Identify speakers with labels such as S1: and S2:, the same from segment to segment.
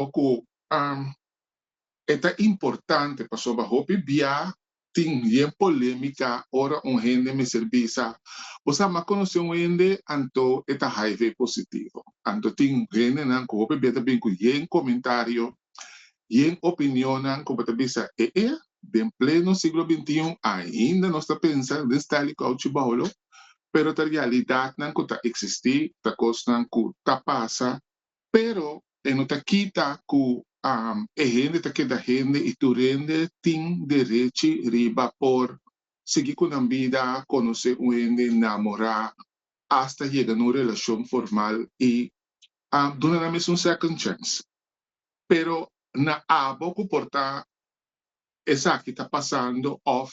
S1: Oco am e ta importante pasobra hopi bia tin bien polemica ora un hende mester bisa bo sa mas conoce un hende anto e ta hiv positivo. Anto tin hendenan cu hopi bia ta bini cu yen comentario, yen opinionnan cu bo ta bisa ee den pleno siglo bintiun ainda nos ta pensa den style cu Auchi Boulo pero ta realidadnan cu ta existi, ta cosnan cu ta pasa Pero e no ta kita ku e hende ta keda hende i tur hende tin derechi riba por sigui ku nan bida, konosé un hende, namorá, asta yega na un relashon formal i duna nan mes un second chance. Pero na abo ku por ta esaki ta pasando òf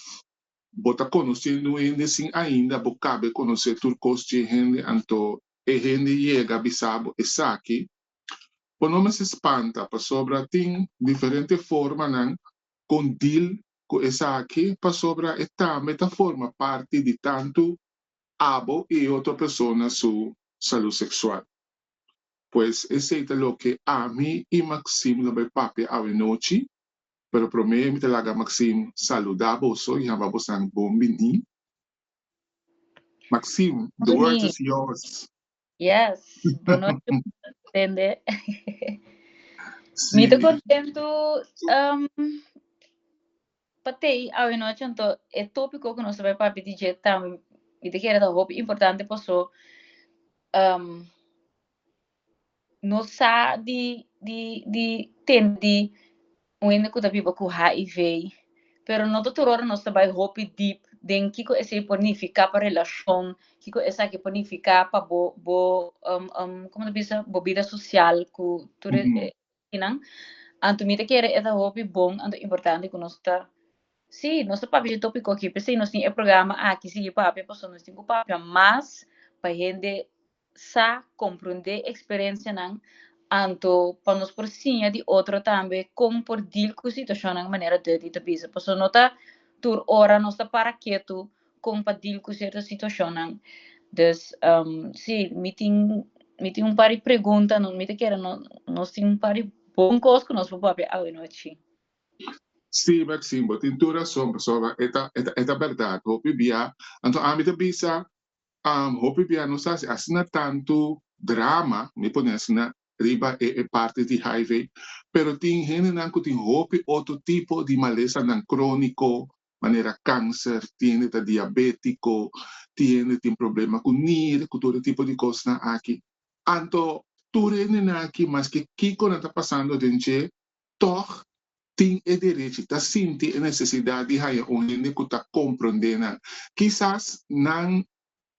S1: bo ta konosendo un hende sin ainda bo kabe konosé tur kos dje hende, anto e hende yega bisa bo esaki, bo no mester spanta pasobra tin diferente formanan con deal cu esaki pasobra e tambe ta forma parti di tantu abo y e otro persona su salud sexual. Pues esey ta loke ami y Maxim lo bay papia awenochi, pero prome mi ta laga Maxim saluda boso y haba boso nan bon bini. Maxime, the world is yours. Yes,
S2: bunochu tende.
S1: Mi te contentu
S2: um, patei awe noche anto e tópico que nos trae papi DJ tam mi te kere ta hopi importante paso um, nos sa di di di tende di un hende ku ta biba ku hiv pero no ta tur ora nos ta bai hopi deep den kiko esei por nifiká pa relashon kiko esaki por nifiká pa bo bo komo ta bisa bo bida sosial ku tur e Nan, anto mi ta kere e ta hopi bon, anto importante ku nos ta, sí, nos ta papia di tòpiko aki, p'esei nos tin e programa aki sigui papia, pasobra nos tin ku papia mas pa hende sa komprondé eksperensianan, anto pa nos por siña di otro tambe kon por dil ku situashonnan manera Dutty ta bisa. Pasobra no ta tur ora nos ta para ketu Kon pa dil ku sierto situashonnan. Dus si, mi tin mi tin un par di pregunta no mi ta kere no nos tin un par di bon kos ku nos por papia awenotchi.
S1: Sí, Maxine, bo tin tur rason pasobra e ta e ta e ta bèrdat. Hopi bia, anto ami ta bisa, hopi bia nos ta hasi asina tantu drama, mi pone asina, riba e e parti di HIV, pero tin hendenan ku tin hopi otro tipo di malesanan króniko manera cáncer, tin hende ta diabético, tin hende tin problema cu nier, cu tur e tipo di cosnan aki. Anto tur hendenan aki, maske kico nan ta pasando den dje, tog tin e derechi, ta sinti e necesidad di haya un hende cu ta comprende nan. Kisas nan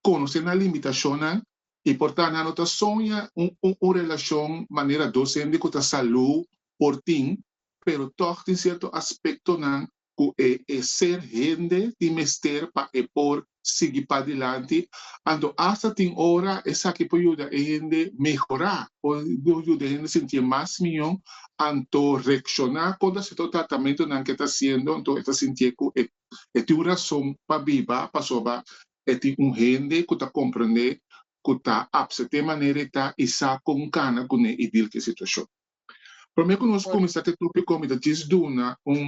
S1: conoce nan limitacionnan y por ta nan no ta soña un relacion manera dos hende cu ta salú por tin, pero tog tin cierto aspectonan ku e e ser hende tin mester pa e por sigui padilanti, anto asta tin ora esaki por yuda e hende mehorá, por yuda e hende sinti e mas mihó, anto reakshoná kontra sierto tratamentunan ku e ta hasiendo, anto e ta sintié ku e e tin un rason pa biba pasobra e tin un hende ku ta komprondé, ku ta apsepté manera e ta i sa kon kana kuné i dil ku e situashon. Promé ku nos kuminsá ku e tópiko mi ta djis duna un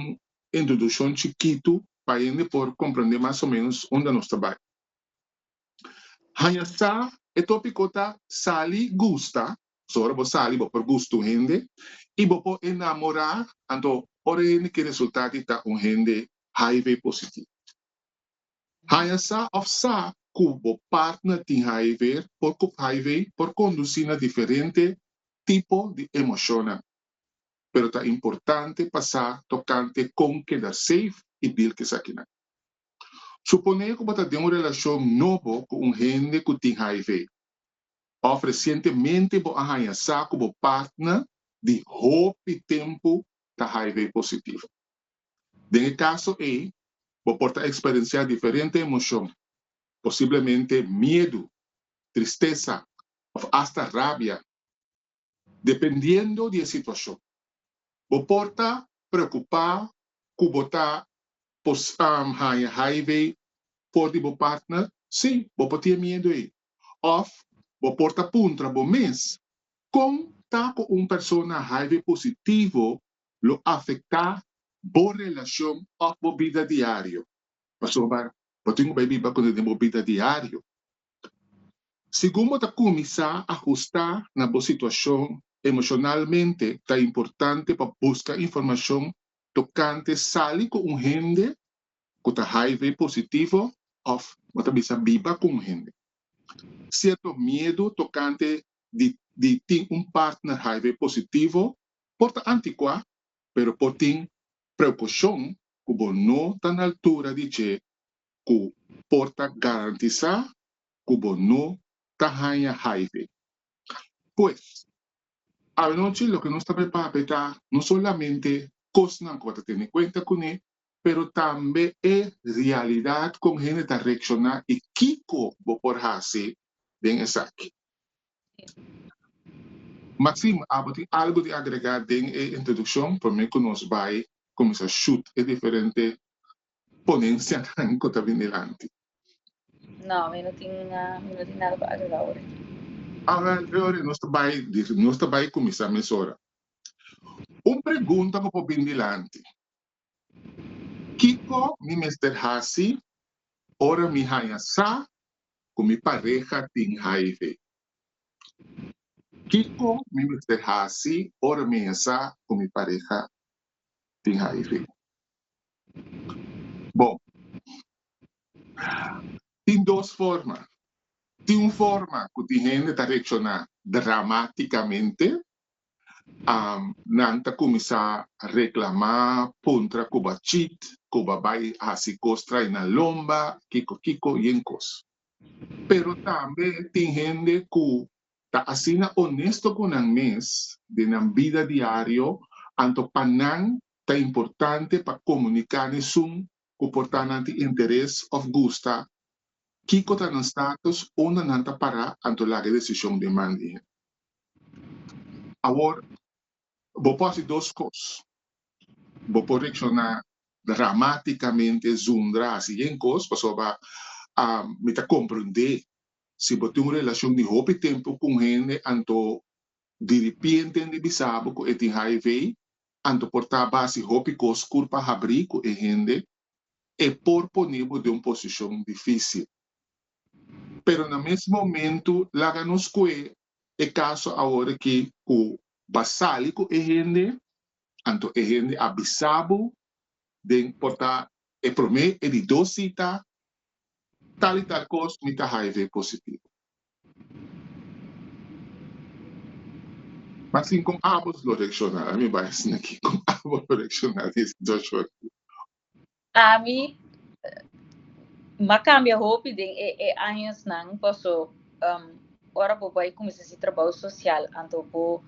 S1: introdukshon chikitu pa hende por komprendé mas o ménos unda nos ta bai. Haña sa e tópiko ta Sali Gusta, pasobra ora bo sali bo por gusta un hende i bo por enamorá, anto ora e hende ke resultá di ta un hende HIV positivo. Haña sa òf sa ku bo partner tin HIV por ku HIV por kondusí na diferente tipo di emoshonnan. Pero ta importante pa sa tokante kon keda seif i dil ku esakinan. Suponé ku bo ta den un relashon nobo ku un hende ku tin HIV, òf resientemente bo a haña sa ku bo partner di hopi tempu ta HIV positivo. Den e kaso ei, bo por ta eksperensiá diferente emoshon, posiblemente miedu, tristesa òf asta rabia. Dependiendo di e situashon, bo por ta preokupá ku bo ta por haña HIV for di bo partner, sí, bo por tin e miedu ei. Òf bo por ta puntra bo mes, Kon ta ku un persona HIV positivo lo afectá bo relacion of bo bida diario. Pasobra bo tin cu bay biba cu den bo bida diario. Segun bo ta cuminsá ajustá na bo situacion emocionalmente, ta importante pa busca informacion tocante sali cu un hende cu ta hiv positivo of bo ta bisa biba cu un hende. Cierto miedu tocante di tin un partner hiv positivo por ta antikuá, pero por tin preukoshon ku bo no ta na altura di dje ku por ta garantisá ku bo no ta haña HIV. Pues, awanochi loke nos ta prepara pa e ta no solamente kosnan ku bo ta tene kuenta kuné, pero tambe e realidad con hende ta reacciona y kico bo por haci den esaki. Maxim, abo tin algo di agrega den e introduccion pa me cu nos bay cuminsa shoot e diferente ponencianan cu ta bin dilanti? No,
S2: mi no tin nada pa agrega ora.
S1: Awe, ora nos ta bay, nos ta bay cuminsa mesora. Un pregunta cu por bin dilanti. Kiko mi mester hasi ora mi haña sa ku mi pareha tin hiv? Kiko mi mester hasi ora mi haña sa ku mi pareha tin hiv? Bon, tin dos forma. Tin un forma ku tin hende ta reakshoná dramátikamente nan ta kuminsá reklamá puntra ku ba chit, ku ba bai hasi kos trai na lomba, kiko kiko yen kos. Pero tambe tin hende ku ta asina onesto ku nan mes den nan bida diario, anto pa nan ta importante pa komuniká n'esun ku por ta nan tin interes òf gusta kiko ta nan status unda nan ta pará anto laga e desishon den man di hende. Awor, bo por hasi dos kos, bo por reakshoná dramátikamente zundra hasi yen kos pasobra mi ta komprendé si bo tin un relashon di hopi tempu ku un hende anto diripienten di bisa bo ku e tin HIV Anto por ta basi hopi kos kur pa habrí ku e hende e por poné bo den un posishon difísil. Pero na mes momentu laga nos kue e kaso awor aki ku b'a sali ku e hende, anto e hende a bisa bo den por ta e promé e di dos sita, tal i tal kos mi ta hiv positivo. Ma sin kon abo lo rekshoná? Ami bai hasi nan ki kon abo lo rekshoná di e situashon
S2: aki? Ami a kambia hopi den e añosnan paso ora bo bai kuminsá hasi trabou sosial anto bo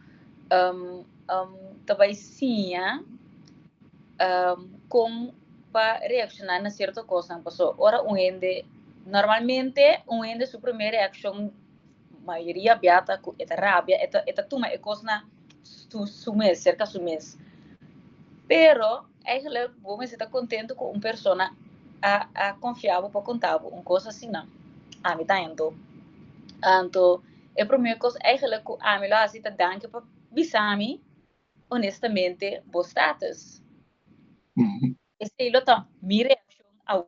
S2: ta bai siña kon pa reakshoná na sierto kosnan. Paso ora un hende Normalmente un hende su primer reaccion mayoria bia ta cu e ta rabia e ta e ta tuma e cosnan su su mes cerca su mes pero eigenluk bo mester ta contento cu un persona a a confia bo pa conta bo un cos asina ami ta hendo anto e primer cos eigenluk cu ami lo haci ta danki pa bisami honestamente bo status esey lo ta mi reaccion awo.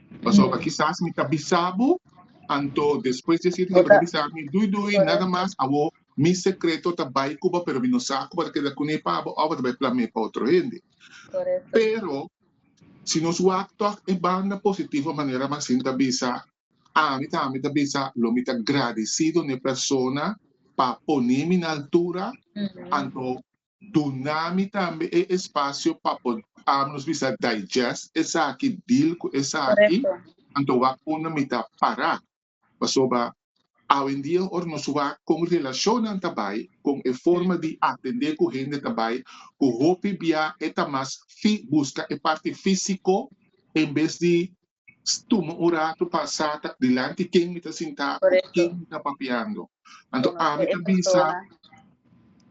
S1: Pasobra kisas mi ta bisa bo, anto despues di esei tin tabata bisa mi, Dui Dui, nada mas awo mi sekreto ta bai ku bo, pero mi no sa ku bo ta keda kuné pa bo òf bo ta bai plam'é pa otro hende. Pero si nos wak tòg e banda positivo manera Maxine ta bisa, ami tambe ta bisa lo mi ta gradisido n'e persona pa poné mi na altura, anto Duna mi tambe e espacio pa por am nos bisa digest esaki, deal cu esaki, anto wak unda mi ta para. Pasobra awendia ora nos wak con relacionnan ta bay, con e forma di atende cu hende ta bay, cu hopi bia e ta mas fi busca e parti fisico en bes di tuma un ratu pa sa ta dilanti ken mi ta sintá o ku ken mi ta papiando. Anto ami ta bisa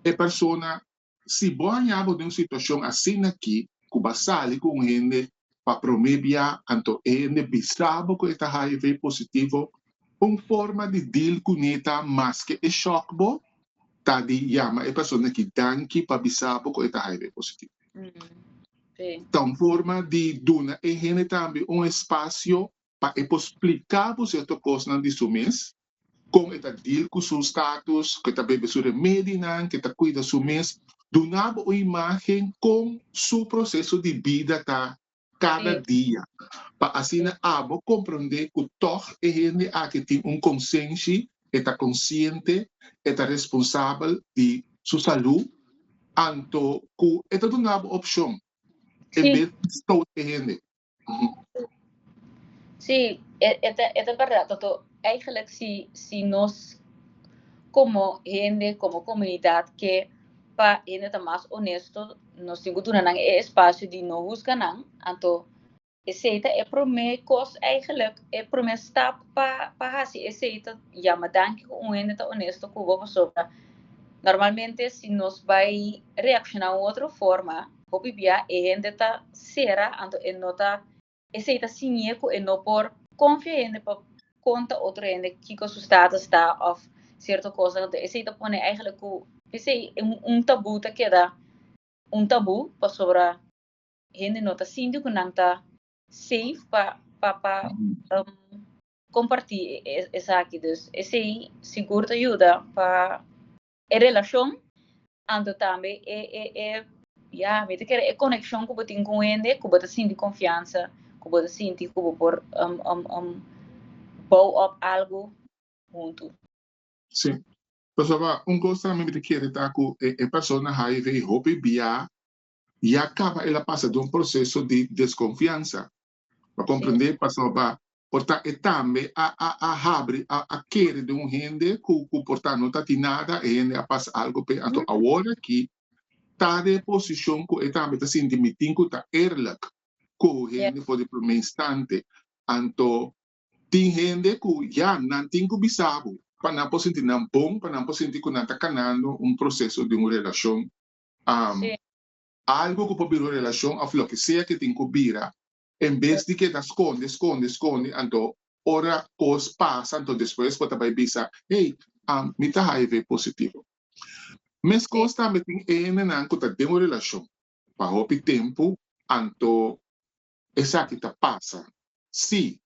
S2: e
S1: persona, si bo a haña bo den un situashon asina aki ku bo a sali ku un hende pa promé bia anto e hende bisa bo ku e ta hiv positivo, un forma di deal kuné ta maske e shòk bo ta di yama e persona aki danki pa bisa bo ku e ta hiv positivo.
S2: Ta un forma
S1: di duna e hende tambe un espasio pa e por splika bo sierto kosnan di su mes, kon e ta deal ku su status, ku e ta bebe su remedinan, ku e ta kuida su mes, duna bo un imagen kon su proseso di bida ta kada dia, pa asina abo komprondé ku tòg e hende aki tin un konsenshi, e ta konsiente, e ta responsabel di su salú, anto ku e ta duna bo opshon en bes di stout e hende.
S2: Sí, e ta bèrdat. Eigenlijk si si nos komo hende, komo komunidat ke pa hende ta mas honesto, nos tin ku duna nan e espasio di no husga nan, anto esei ta e promé kos eigenlijk, e promé stap pa pa hasi esei ta yama danki ku un hende ta honesto ku bo pasobra normalmente si nos bai reakshoná un otro forma hopi bia e hende ta sera anto e no ta. Esei ta siñ'é ku e no por konfia hende pa konta otro hende kiko su status ta òf sierto kos. Esei ta pone eigentlik ku p'esei un tabú ta keda un tabú pasobra hende no ta sinti ku nan ta safe pa pa kompartí esaki. Dus esei sigur ta yuda pa. E relacion anto tambe e e ya mi ta kere e coneccion cu bo tin cu un hende cu bo ta sinti confiansa cu bo ta sinti cu bo por bou up algo hunto. Si
S1: pasobra un cos tambe mi ta kere ta cu e persona hiv hopi bia ya caba el a pasa den un proceso di desconfiansa Pa comprende pasobra por ta e tambe a a a habri a a kere den un hende cu cu por ta no ta tin nada e hende a pasa algo p'e anto awor aki ta den e posicion cu e tambe ta sinti mi tin cu ta eerlijk cu hende for di prome instante anto tin hende cu ya nan tin cu bisa bo pa nan por sinti nan bon pa nan por sinti cu nan ta canando un proceso di un relacion Algu ku por bira un relashon òf loke sea ke tin ku bira, en bes di keda skonde, skonde, skonde, anto ora kos pasa anto despues bo ta bai bisa, Hey, mi ta hiv positivo. Meskos tambe tin ehendenan ku ta den un relashon pa hopi tempu anto esaki ta pasa. Sí,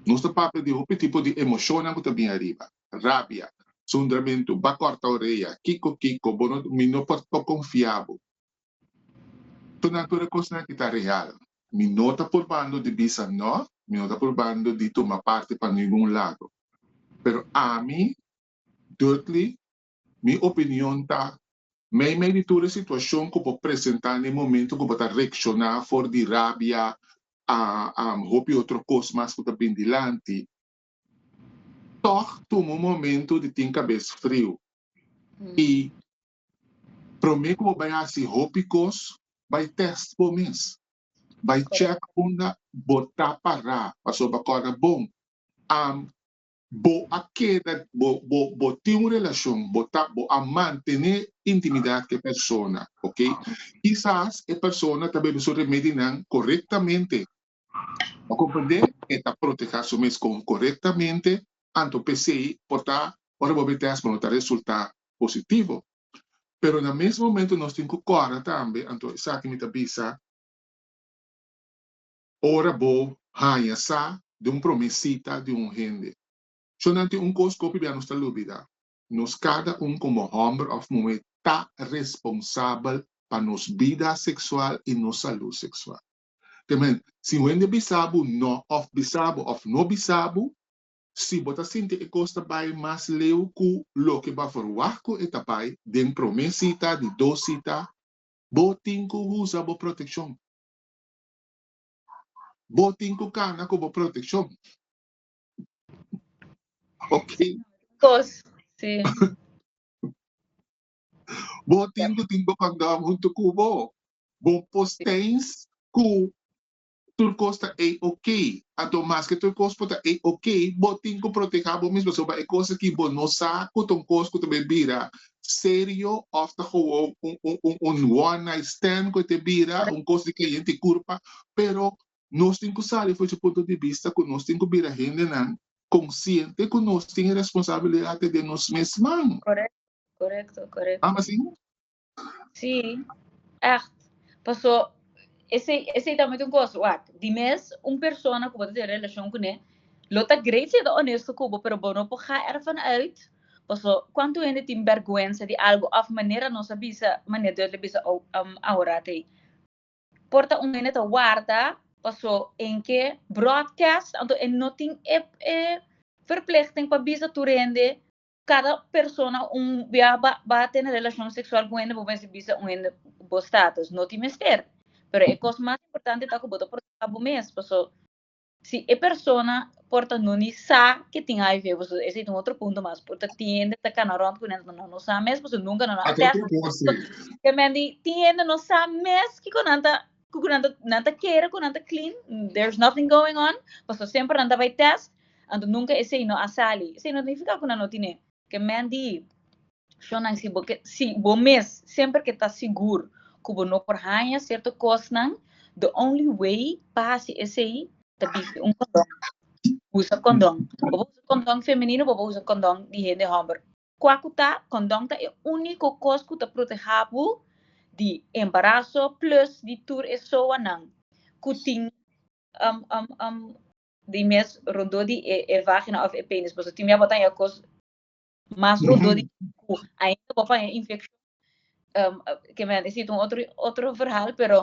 S1: Nos ta papia di hopi tipo di emoshonnan ku ta bin ariba, rabia, sundramentu, ba kòrta oreya, kiko kiko, bo no mi no por tok konfia bo. Tonan tur e kosnan aki ta real. Mi no ta purbando di bisa nò, mi no ta purbando di tuma parti pa ningun lado. Pero ami, Dudley, Mi opinion ta, Meimei di tur e situashon ku bo presentá na e momentu ku bo ta reakshoná for di rabia a hopi otro kos mas ku ta bini dilanti, tòg tuma un momentu di tin kabes friu i promé ku bo bai hasi hopi kos, bai tèst bo mes. Bai chèk unda bo ta pará, pasobra kòrda bon, am Bo a keda, bo, bo, bo tin un relashon, bo ta, bo a mantené intimidat ku e persona, ok? Kisas e persona ta bebe su remedinan korektamente, bo komprendé? E ta protehá su mes kon korektamente, anto p'esei por ta ora bo bai tèst, bo no ta resultá positivo. Pero na mes momento nos tin ku kòrda tambe, anto esaki mi ta bisa, Ora bo haña sa di un promé sita di un hende, shon'an tin un kos ku hopi bia nos ta lubidá, nos kada un komo hòmber òf muhé ta responsabel pa nos bida seksual i nos salú seksual. Te men, si un hende bisa bo nò òf bisa bo òf no bisa bo, si bo ta sinti e kos ta bai mas leu ku loke bo a verwagt ku e ta bai den promé sita di dos sita, bo tin ku usa bo protekshon. Bo tin cu cana cu bo proteccion.
S2: Ok.
S1: Cos, si. Bo tin cu tin bo condom hunto cu bo. Bo postens cu tur cos ta ey ok. Anto mas que tur cos por ta ey ok, bo tin cu proteha bo mismo. So, bay e cos aki bo no sa cu ta un cos cu ta bay bira serio of ta gewoon un one night stand cu e ta bira un cos di caliente y curpa pero nos tin cu sali fuer dje punto di bista cu nos tin cu bira hendenan consciente cu nos tin e responsabilidad ta den nos mesman. Correcto,
S2: correcto. Am
S1: asina? Si,
S2: echt. Paso esey, esey tambe ta un cosa, wak, di mes un persona cu bo ta tin relacion cu ne, lo ta great si e ta honesto cu bo, pero bo no por ga ervan uit Paso cuanto hende tin berguensa di algo of manera nos a bisa manera Dios lo bisa aora ta ey. Por ta un hende ta warda paso en ke broadcast anto e no tin e e verplichting pa bisa tur hende cada persona un bia ba ba tene relacion sexual cu hende bo mester bisa un hende bo status no tin mester pero e cos mas importante ta cu bo ta protege bo mes paso Si e persona por ta no ni sa ke tin hiv, pasobra esei ta un otro punto mas, por ta tin hende ta kana rònt ku nan ta no sa mes pasobra nunka nan a tèst. Ato otro kos si. Te men di tin hende no sa mes kiko nan ta ku nan ta nan ta kere ku nan ta clean, there's nothing going on, pasobra semper nan ta bai tèst, anto nunka esei no a sali. Esei no ta nifiká ku nan no tine. Ke men di Shonnan, si bo ke, si bo mes semper ke ta sigur ku bo no por haña sierto kosnan, the only way pa hasi esei ta bishi un kondon. Usa kondon. Bo por usa kondon femenino, bo por usa kondon di hende hòmber. Kua ku ta, kondon ta e úniko kos ku ta protehá bo di embaraso plùs di tur e soanan ku tin um um um di mes rondó di e e vágina òf e pénis. Pasobra tin bia bo ta haña kos. mas rudo di cu ainda bo paña infeccion ke men a deci ta un otro otro verhal pero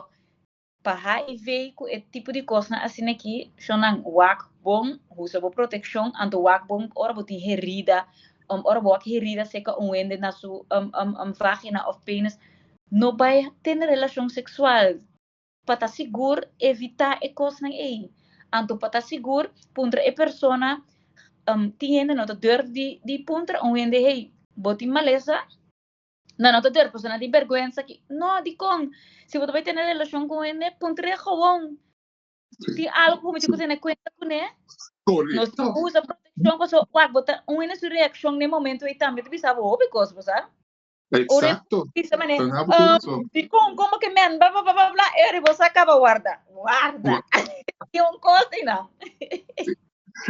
S2: pa HIV cu e tipo di cosnan asina aki shon nan wak bon usa bo proteccion anto wak bon ora bo tin herida ora bo wak herida seca un wende na su vagina of penis no bai tene relacion sexual. Pa ta sigur, evitá e kosnan ei. Anto pa ta sigur, puntra e persona, Hm, tin hende no ta durf di di puntra un hende hey, bo tin malesa? No, no ta durf pasobra nan tin bèrgwensa ki. No, dikon? Si bo ta bai tene relashon ku un hende, puntra e gowon. Tin algu ku bo mester ku tene kuenta kuné. Nos tin
S1: ku usa protekshon
S2: pasobra wak bo ta un hende su reakshon na e momentu ei tambe ta bisa bo hopi kos, bo sa. Exacto.
S1: Bisa mane, Tan hapo
S2: um, corazón. di con, como que men, bla, bla, bla, bla, bla, Eri, vos acaba guarda. Guarda. Y un cosa, y no.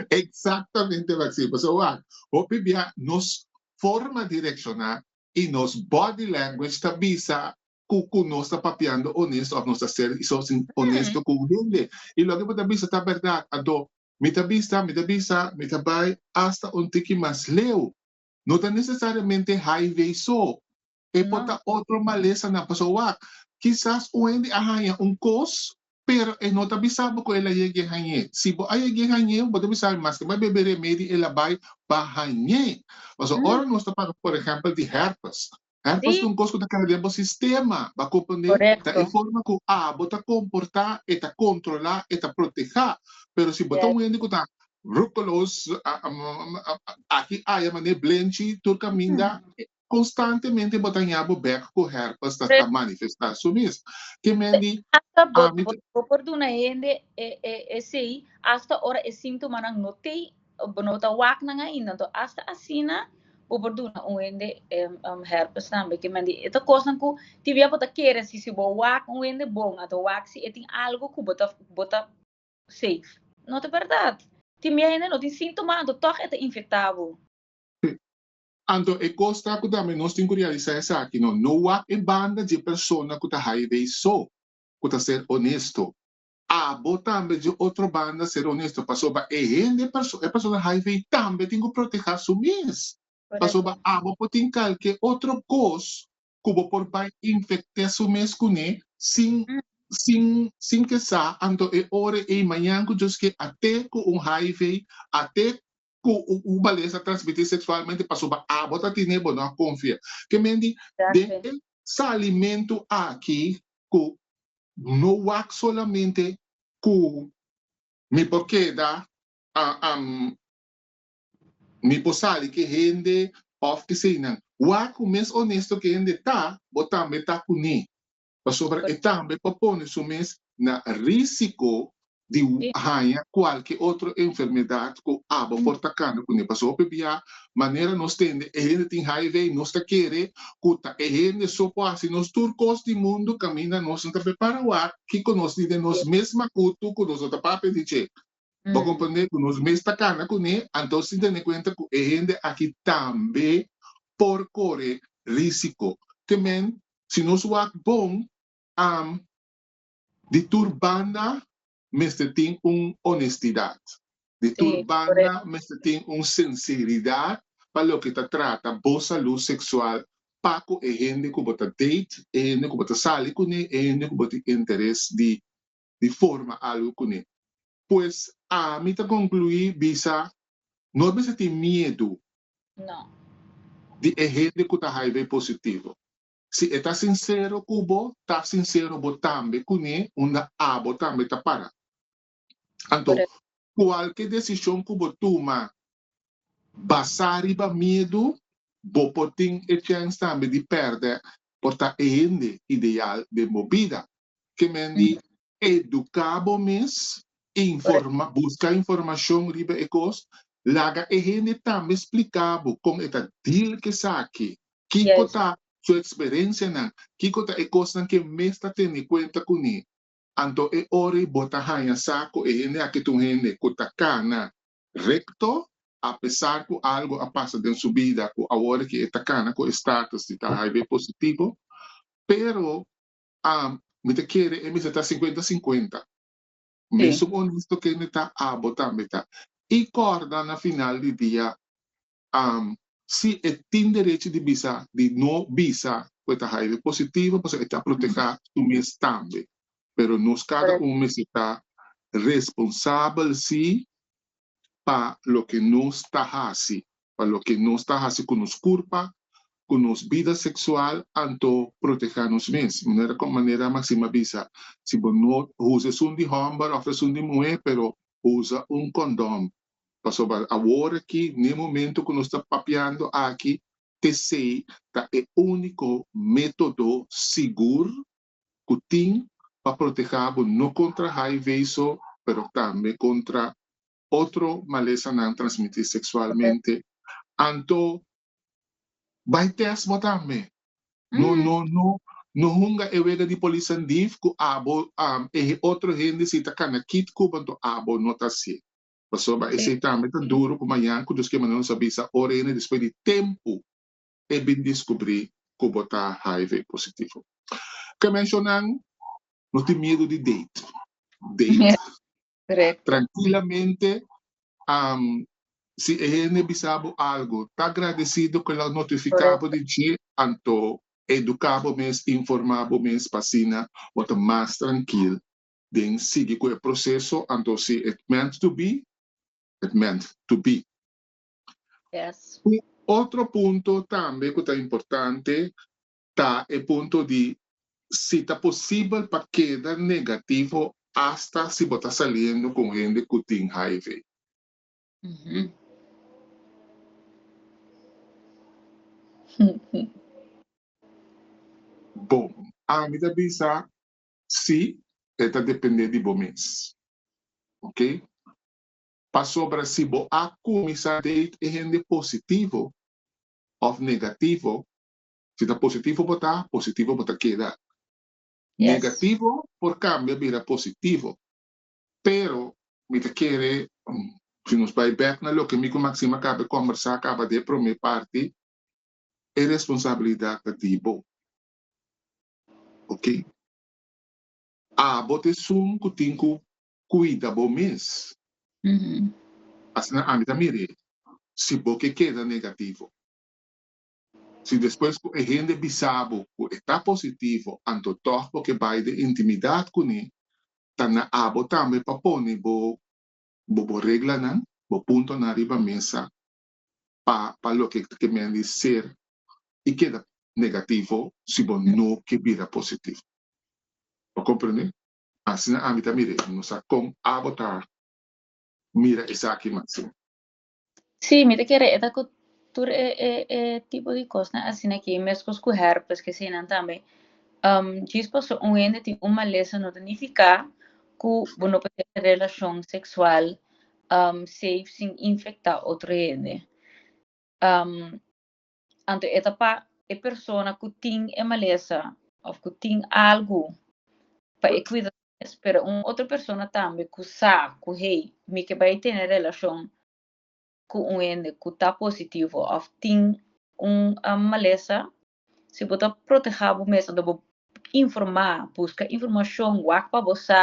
S2: Exactamente
S1: wat si. Paso wak, hopi bia nos forma di reacciona y nos body language ta bisa cu, cu nos ta papiando honesto of nos ta ser so sin honesto cu un hende. Y loke bo ta bisa ta berdad. Ando, mi ta bisa, mi ta bisa, mi ta bay hasta un tiki mas leu. No ta nesesariamente highway so. E por ta otro malesanan. Pasobra wak, kisas un hende a haña un kos, pero e no ta bisa bo ku el a yeg'e hañ'é. Si bo a yeg'e hañ'é, bo ta bisa, maske bo a bebe remedi, el a bai pa hañ'é. Pasobra ora nos ta parla, por ehèmpel, di hèrpes, Herpes ta un cos cu ta keda den bo sistema, ba comprende? Ta e forma cu abo ta comporta, e ta controla, e ta proteha. Pero si bo ta un hende cu ta ruculos, aki aya manera blenchi tur caminda, constantemente bo ta hia bo bek cu herpes ta ta manifesta su mes. Ke men di, ami ta. Bo
S2: por duna hende esey hasta ora e sintomanan no tey Bo no ta wak nan ainda, anto hasta asina bo por duna un hende herpes tambe. Ke men di e ta kosnan ku tin bia bo ta kere si si bo wak un hende bon a ta wak si e tin algu ku bo ta bo ta safe. No ta bèrdat. Tin bia hende no tin síntoma anto tòg e ta infektá bo. Te.
S1: Anto e kos ta ku tambe nos tin ku realisá esaki, no no wak e banda dje persona ku ta haiveisó, ku ta ser onesto. Abo tambe dje otro banda ser honesto pasoba e hende e persona hiv tambe tin cu proteha su mes pasoba abo por tin calke otro cos cu bo por bay infecte su mes cune sin sin sin ke sa anto e ora ey mañan cu Dios ke a te cu un hiv a te cu un bales ta transmiti sexualmente pasobra abo ta tine bo no a confia. Ke men di den e salimentu aki cu no wak solamente cu mi por keda mi por sali ke hende of eseinan. Wak cu mes honesto ke hende ta bo tambe ta cu ne. pasobra e tambe por pone su mes na risiko di haña kualke otro enfermedad ku aba por ta kana kuné. Pasobra p'ebia manera nos tende e hende tin hiv, nos ta kere ku ta e hende so por hasi nos tur kos di mundu kaminda nos no ta prepara wak kiko nos di den nos mes makutu ku nos no ta papia di dje. Bo comprende cu nos mes ta cana cu ne, anto sin tene cuenta cu e hende aki tambe por core risico. Te men, si nos wak bon, am, di tur banda mester tin un honestidad. Di tur Sí, banda correcto. mester tin un sinceridad pa loke ta trata bo salud sexual pa cu e hende cu bo ta date, e hende cu bo ta sali cu ne, e hende cu bo tin interes di di forma algu kuné. Pues ami ta konkluí bisa, No mester tin miedu di e hende ku ta hiv positivo. Si e ta sinsero ku bo, ta sinsero bo tambe kuné unda abo tambe ta para. Anto, kualke desishon ku bo tuma basá riba miedu, bo por tin e chèns tambe di pèrdè por ta e hende ideal den bo bida. ke men di eduká bo mes, informa, buska informashon riba e kos, laga e hende tambe spliká bo kon e ta deal ku esaki, kiko yes. ta su eksperensianan, kiko ta e kosnan ke mes ta tene kuenta kuné. Anto e ora ei bo ta haña sa ku e hende aki ta un hende ku ta kana rekto, apesar ku algu a pasa den su bida ku awor aki e ta kana ku e status di ta HIV positivo, pero A, Mi ta kere e mester ta sinkuenta sinkuenta. Mesun onesto kende ta abo tambe ta. I kòrda na final di dia A, si e tin derechi di bisa di no bisa ku e ta haire positivo pasobra e ta protehá su mes tambe. Pero nos kada un mester ta responsabel si pa loke nos ta hasi, pa loke nos ta hasi ku nos kurpa, ku nos bida seksual anto protehá nos mes. Manera kon Manera Maxim a bisa, si bo no usa esun di hòmber òf esun di muhé, pero usa un kondòm. Pasobra awor aki, na e momentu ku nos ta papiando aki, tesei ta e úniko método sigur ku tin pa protehá bo no kontra HIV so pero tambe kontra otro malesanan transmití seksualmente anto bai tèst bo tambe no no no no hunga e wega di polisan dif ku abo e otro hende si ta kana kit kuba anto abo no ta hasié pasobra esei tambe ta duru ku mañan ku Dios ke manda nos a bisa ora hende despues di tempu. e bin diskubrí ku bo ta hiv positivo. Kemeshonan no tin miedu di date. Date trankilamente si e hende bisa bo algu ta agradesido ku el a notifiká bo di dje anto eduká bo mes, informá bo mes pa asina bo ta mas trankil den sigui ku e proseso anto si it meant to be it meant to be. Yes.
S2: Un otro
S1: punto tambe cu ta importante ta e punto di si ta posibel pa keda negativo hasta si bo ta saliendo con hende cu tin hiv. Bon, ami ta bisa si, e ta depende di bo mes. Ok? Pasobra si bo a kuminsá date e hende positivo òf negativo, si ta positivo bo ta, positivo bo ta keda. Negativo por kambia bira positivo. Pero mi ta kere, si nos bai bèk na loke mi ku Maxima kaba e kòmbersá kaba den e promé parti, e responsabilidat ta di bo. Oke. Abo ta esun ku tin ku Cuida bo mes. Asina ami ta mira e. Si bo ke keda negativo. Si despues ku e hende bisa bo ku e ta positivo anto tòg bo ke bai den intimidad kuné, ta na abo tambe pa pone bo bo reglanan, bo puntonan riba mesa pa pa loke ta kemen di ser i keda negativo si bo no ke bira positivo. Bo komprende? Asina ami ta mira i no sa kon abo ta mira esaki mas. Sí,
S2: mi ta kere e ta ku tur e e e tipo di kosnan asina aki, meskos ku hèrpes, ke seinan tambe. Djis paso un hende tin un malesa no ta nifiká ku bo no por hasi relashon seksual seif sin infektá otro hende. Anto e ta pa e persona ku tin e malesa òf ku tin algu pa e kuida su mes, pero un otro persona tambe ku sa ku hey mi ke bai tene relashon ku un hende ku ta positivo òf tin un malesa, si bo ta protehá bo mes anto bo informá, buska informashon, wak pa bo sa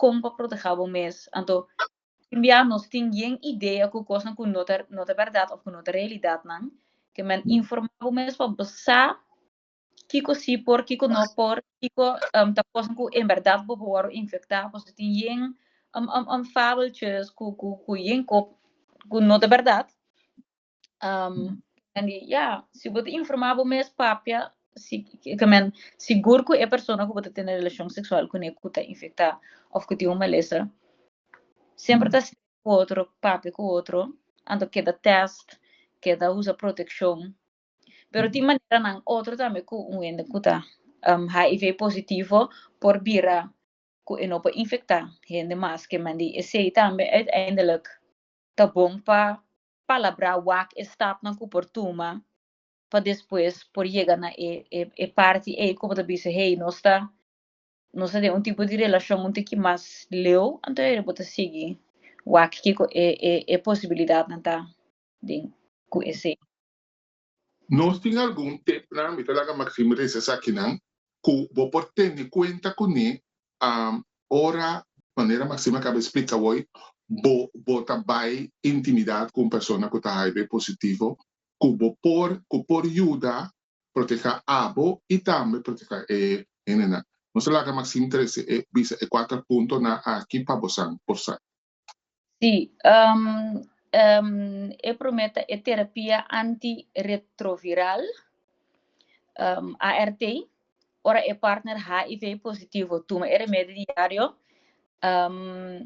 S2: kon pa protehá bo mes. Anto Tin bia nos tin yen idea ku kosnan ku no ta no ta bèrdat òf ku no ta realidatnan, te men informá bo mes pa bo sa kiko si por, kiko no por, kiko ta kosnan ku en bèrdat bo por wòrdu infektá, pasobra tin yen fabeltjes ku ku ku yen ku no ta bèrdat. Um, en di, ja, si bo te informá bo mes papia, si, que men, sigur ku e persona ku bo te tene relashon seksual kuné ku ta infektá of ku tin un malesa, semper ta stres ku otro, papia ku otro, anto keda tèst, keda usa protekshon. Pero tin maneranan otro tambe ku un hende ku ta um, HIV positivo por bira ku e no por infektá hende mas, ke men di esei tambe uiteindelijk ta bon pa Palabrá wak e stapnan ku por tuma pa despues por yega na e parti ei ku bo ta bisa, Hei, nos ta nos ta den un tipo di relashon un tiki mas leu, anto e bo ta sigui wak kiko e posibilidatnan ta den ku esei.
S1: Nos tin algun tipnan, mi ta laga Maxime risa esakinan, ku bo por tene kuenta kuné ora, manera Maxime a kaba di splika awor, bo bo ta bai intimidat ku un persona ku ta hiv positivo, ku bo por ku por yuda protehá abo i tambe protehá e hendenan. Nos ta laga Maxime trese e bisa e kuater puntonan aki pa bosan por sa. Sí,
S2: um, um, e promé ta e terapia antiretroviral, um, ART, ora e partner HIV positivo tuma e remedio diario, um,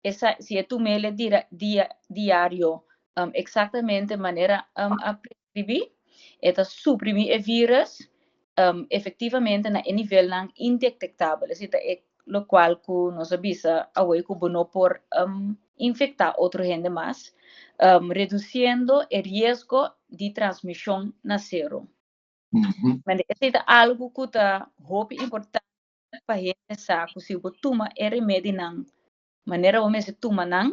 S2: esa, si e tumele dia, dia, diario, um, exactamente manera um, a Sibi e ta suprimí e vírus efektivamente na e nivelnan indetektabel, esei ta e lokual ku nos a bisa awor ku bo no por infektá otro hende mas, redusiendo e riesgo di transmishon na sero. Manera esei ta algu ku ta hopi importante pa hende sa ku si bo tuma e remedinan manera bo mester tuma nan,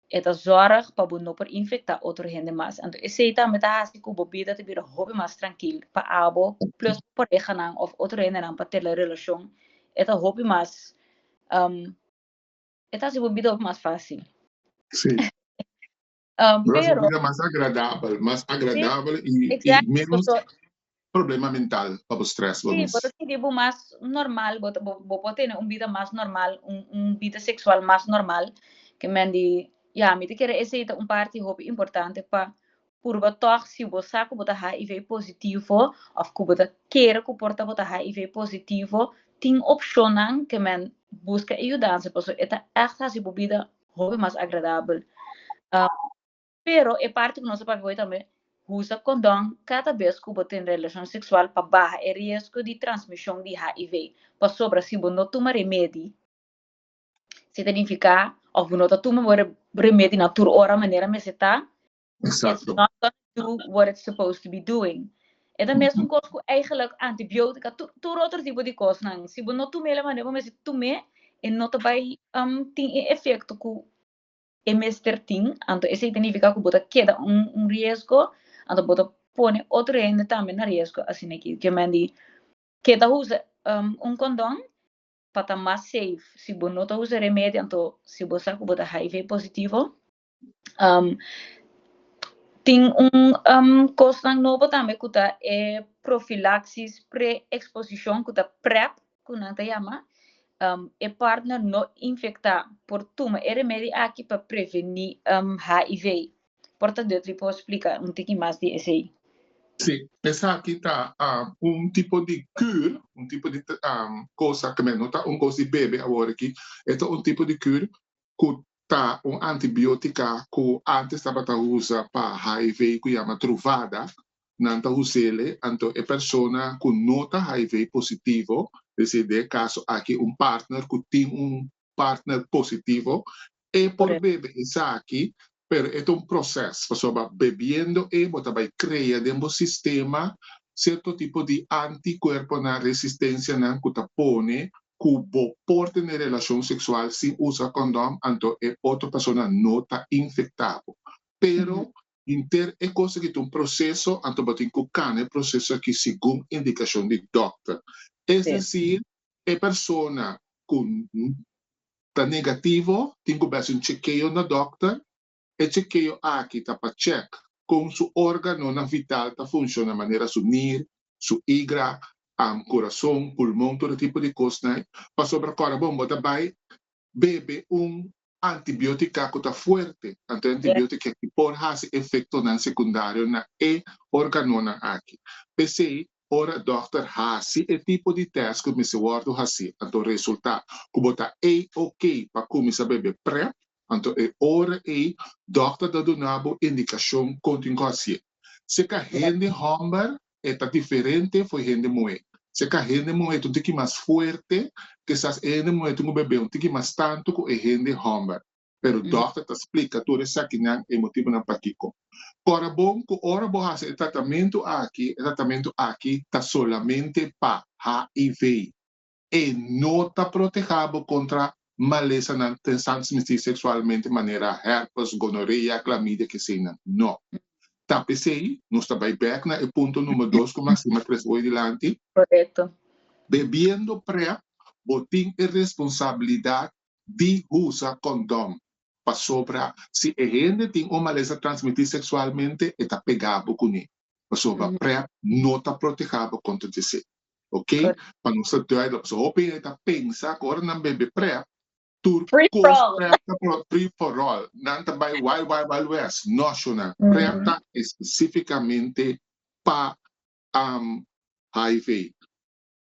S2: E ta zòrg pa bo no por infektá otro hende mas. Anto esei tambe ta hasi ku bo bida ta bira hopi mas trankil. Pa abo, plùs bo parehanan òf otro hendenan pa tela relashon, e ta hopi mas, e ta hasi bo bida hopi mas fásil. Sí. Lo hasi bo bida mas
S1: agradabel, mas agradabel
S2: i
S1: menos. problema mental pa bo stress bo mis. Si, bo ta sinti bo
S2: mas normal, bo ta bo por tene un bida mas normal, un un bida seksual mas normal, ke men di ya mi ta kere esei ta un parti hopi importante pa purba tòg si bo sa ku bo ta HIV positivo òf ku bo ta kere ku por ta bo ta HIV positivo, tin opshonnan ke men buska e yudansa pasobra e ta ègt hasi bo bida hopi mas agradabel. Pero e parti ku nos ta papia hoy tambe, usa kondon kada bes ku bo tin relashon seksual pa baha e riesgo di transmishon di HIV, pasobra si bo no tuma remedi, si ta nifiká òf bo no ta tuma bo remedi na tur ora manera mester ta, it's not gonna do
S1: what
S2: it's supposed to be doing. E ta mesun kos ku eigelik antibiótika, tur otro tipo di kosnan, si bo no tum'é la manera bo mester tum'é, e no ta bai tin e efekto ku e mester tin, anto esei ta nifiká ku bo ta keda un un riesgo, anto bo ta pone otro hende tambe na riesgo asina ke ke men di ke ta usa un kondon pa ta mas safe si bo no ta usa remedio anto si bo sa ku bo ta hiv positivo tin un kosnan nobo tambe ku ta e profilaksis preeksposishon ku ta prep ku nan ta yama e partner no infektá por tuma e remedi aki pa prevení HIV. Por ta Dutri por splika un tiki mas di esei. Sí,
S1: esaki ta un tipo di kür, un tipo di kos aki men, no ta un kos di bebe awor aki, e ta un tipo di kür ku ta un antibiotica cu antes tabata usa pa hiv cu yama Truvada, nan ta usele anto e persona cu no ta hiv positivo, deci den e caso aki un partner cu tin un partner positivo, e por bebe esaki, pero e ta un proces, pasobra bebiendo e bo ta bay crea den bo sistema cierto tipo di anticuerponan, resistencianan cu ta pone ku bo por tene relashon seksual sin usa kondom, anto e otro persona no ta infektá bo. Pero hinter e kos aki ta un proseso, anto bo tin ku kana e proseso aki segun indikashon di dòkter. Es desir, e persona ku ta negativo tin ku bes un chekeo na dòkter. E chekeo aki ta pa chèk kon su órganonan vital ta funshona manera su nir, su igra, am, kurason, pulmon, tur e tipo di kosnan. Pasobra kòrda bon bo ta bai bebe un antibiótika ku ta fuerte, anto e antibiótika aki por hasi efektonan sekundario na e órganonan aki. P'esei ora dòkter hasi e tipo di tèst ku mester wòrdu hasí, anto resultá ku bo ta ei oké pa kuminsá bebe Prep, Anto e ora ei dòkter ta duna bo indikashon kon tin ku hasié. Si ka hende hòmber, e ta diferente for hende muhé. Si ka hende muhé ta un tiki mas fuerte, kisas e hende muhé tin ku bebé un tiki mas tantu ku e hende hòmber. Pero dòkter ta splika tur esakinan, e motibunan pakiko. Kòrda bon ku ora bo hasi e tratamentu aki, e tratamentu aki ta solamente pa HIV. e no ta protehá bo kontra malesanan den transmisí seksualmente manera hèrpes, gonorea, klamidia, keseinan. No. Ta p'esei nos ta bai bèk na e punto number dos ku Maxima tres hoy dilanti. Korekto.
S2: Bebiendo
S1: prèp, bo tin e responsabilidat di usa kondòn, pasobra si e hende tin un malesa transmití seksualmente e ta pegá bo kuné, pasobra prèp no ta protehá bo kontra djesei. ok pa nos ta duida pasobra hopi gente ta pensa cu ora nan bai be prep tur
S2: cos prep ta por free for
S1: all nan ta bai wild wild wild west no shona prep ta especificamente pa um hiv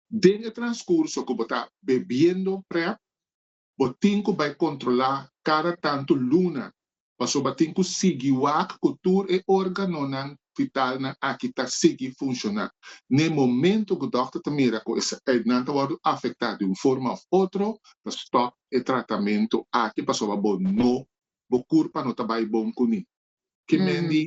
S1: den e transcurso cu bo ta bebiendo prep Bo tin ku bai kontrolá kada tantu luna pasobra bo tin ku sigui wak ku tur e órganonan vitalnan aki ta sigui funshoná. Na e momentu ku dòkter ta mira ku nan ta wòrdu afektá di un forma òf otro, ta stòp e tratamentu aki pasobra bo no bo kurpa no ta bai bon kuné. Kimendi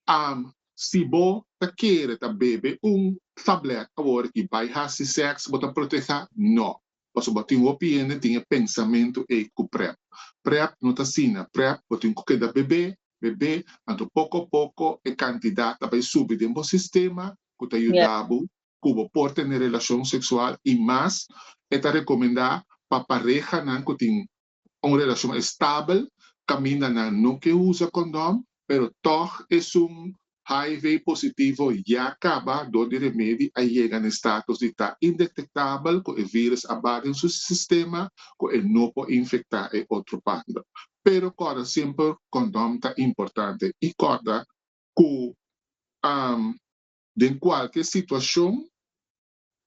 S1: Am, Si bo ta kere ta bebe un tablet awor y bay hasi sex bo ta proteha? No. Paso bo tin hopi hende tin e pensamentu ey cu prep. Prep no ta asina, prep bo tin cu keda bebe, bebe, anto poco a poco e cantidad ta bay subi den bo sistema cu ta yuda bo cu bo por tene relacion sexual y mas e ta recomenda pa parehanan cu tin Un relacion estabel caminda nan no ke usa condom, pero tog esun hiv positivo ya caba door di remedi a yega na e status di ta indetectabel cu e virus a ba den su sistema cu e no por infecta e otro pando. Pero corda semper condom ta importante y corda cu den cualkier situacion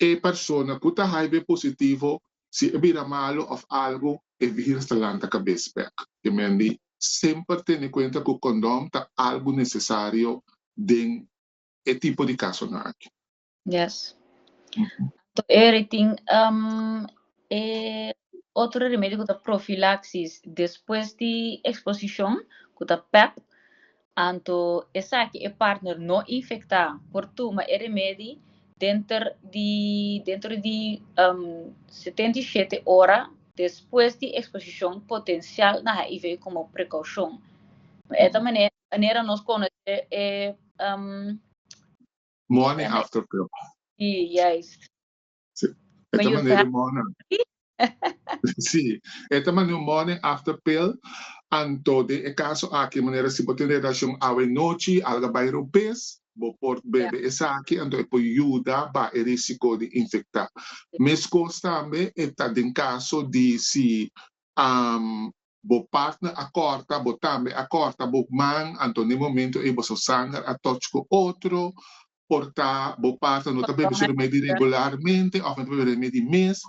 S1: E persona ku ta haibe positivo, si e bira malu òf algu, e virus ta lanta kabes bèk. Ke men di, semper tene kuenta ku kondom ta algu nesesario den e tipo di kasonan aki. Yes.
S2: Anto e ri tin e otro remedio ku ta profilaksis despues di eksposishon, ku ta pep, Anto esaki e partner no infecta por tuma e remedi denter di dentro di setenta i shete ora despues di exposicion potencial na hiv como precaucion. Bo eta manera nos conoce e
S1: Morning after pill. Si, juist. Sí. E ta manera un morne. Sí. E ta manera un morne after pill. Anto den e caso aki manera si bo tin relacion awe nochi y alga bay rupes, bo por bebe esaki anto e por yuda baha e risico di infecta. Mescos tambe e ta den caso di si bo partner a corta, bo tambe a corta bo man, anto den e momento ey boso sanger a touch cu otro, por ta bo parta no ta bebe su remedi regularmente of no ta bebe remedi mes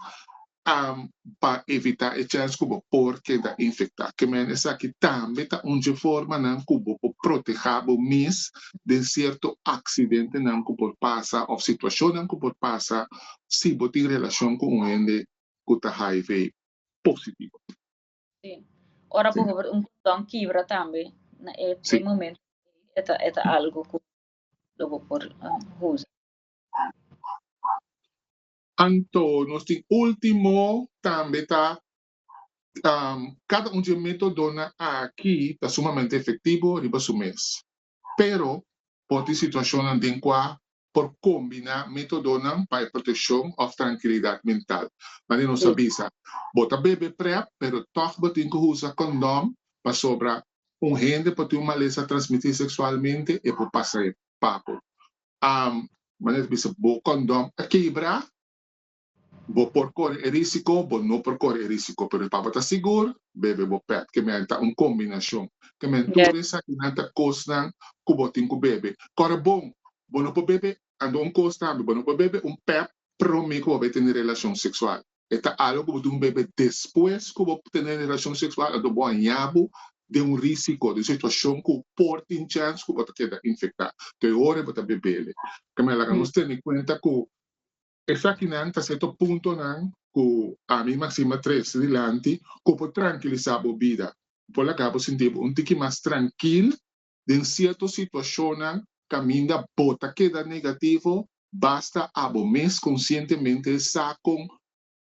S1: pa evita e chance cu bo por keda infecta ke men esaki tambe ta un dje formanan cu bo por proteha bo mes den cierto accidentenan cu por pasa of situacionnan cu por pasa si bo tin relacion cu un hende cu ta hiv positivo. Si,
S2: ora bujubert un condon
S1: kibra
S2: tambe na e
S1: momento
S2: e ta algo cu lo bo por
S1: usa. Anto nos tin ultimo tambe ta cada un dje metodonan aki ta sumamente efectivo riba su mes. Pero por tin situacionnan den cua por combina metodonan pa e proteccion of trankilidad mental. Madi nos a bisa, bo ta bebe prep pero tog bo tin cu usa condom pasobra un hende por tin un malesa transmití seksualmente e por pasa e pa bo. Am manera ta bisa bo kondom a kebra, bo por kore e risiko, bo no por kore e risiko pero pa bo ta sigur bebe bo pèt ke men ta un kombinashon ke men tur Yes. esaki nan ta kosnan ku bo tin ku bebe. Kòrè bon, bo no por bebe, ando un kos tambe bo no por bebe un pèp promé ku bo bai tene relashon seksual. E ta algo ku bo tin ku mepe despues ku bo tene relashon seksual anto bo a haña bo den un risiko, den un situashon ku por tin chèns ku bo ta keda infektá. To'e hora bo ta bebel. Kèmen laga nos tene kuenta ku esakinan ta serto puntonan ku ami i Maxima trese dilanti ku por trankilisá bo bida, ku por laga bo sinti bo un tiki mas trankil den cierto situacionnan caminda bo ta keda negativo, basta abo mes conscientemente sa con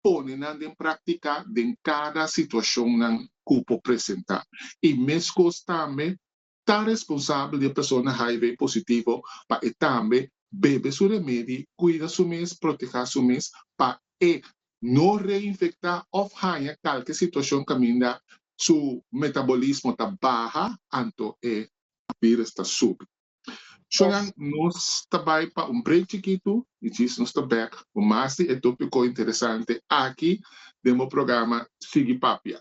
S1: pone nan den practica den cada situacionnan cu por presenta. Y mescos tambe ta responsabel di e persona hiv positivo pa e tambe bebe su remedi, cuida su mes, proteha su mes pa e no reinfecta of haña calke situacion caminda su metabolismo ta baha anto e virus ta subi. So nan nos ta bay pa un break chikitu y djis nos ta bek cu mas di e topico interesante aki den bo programa Sigui Papia.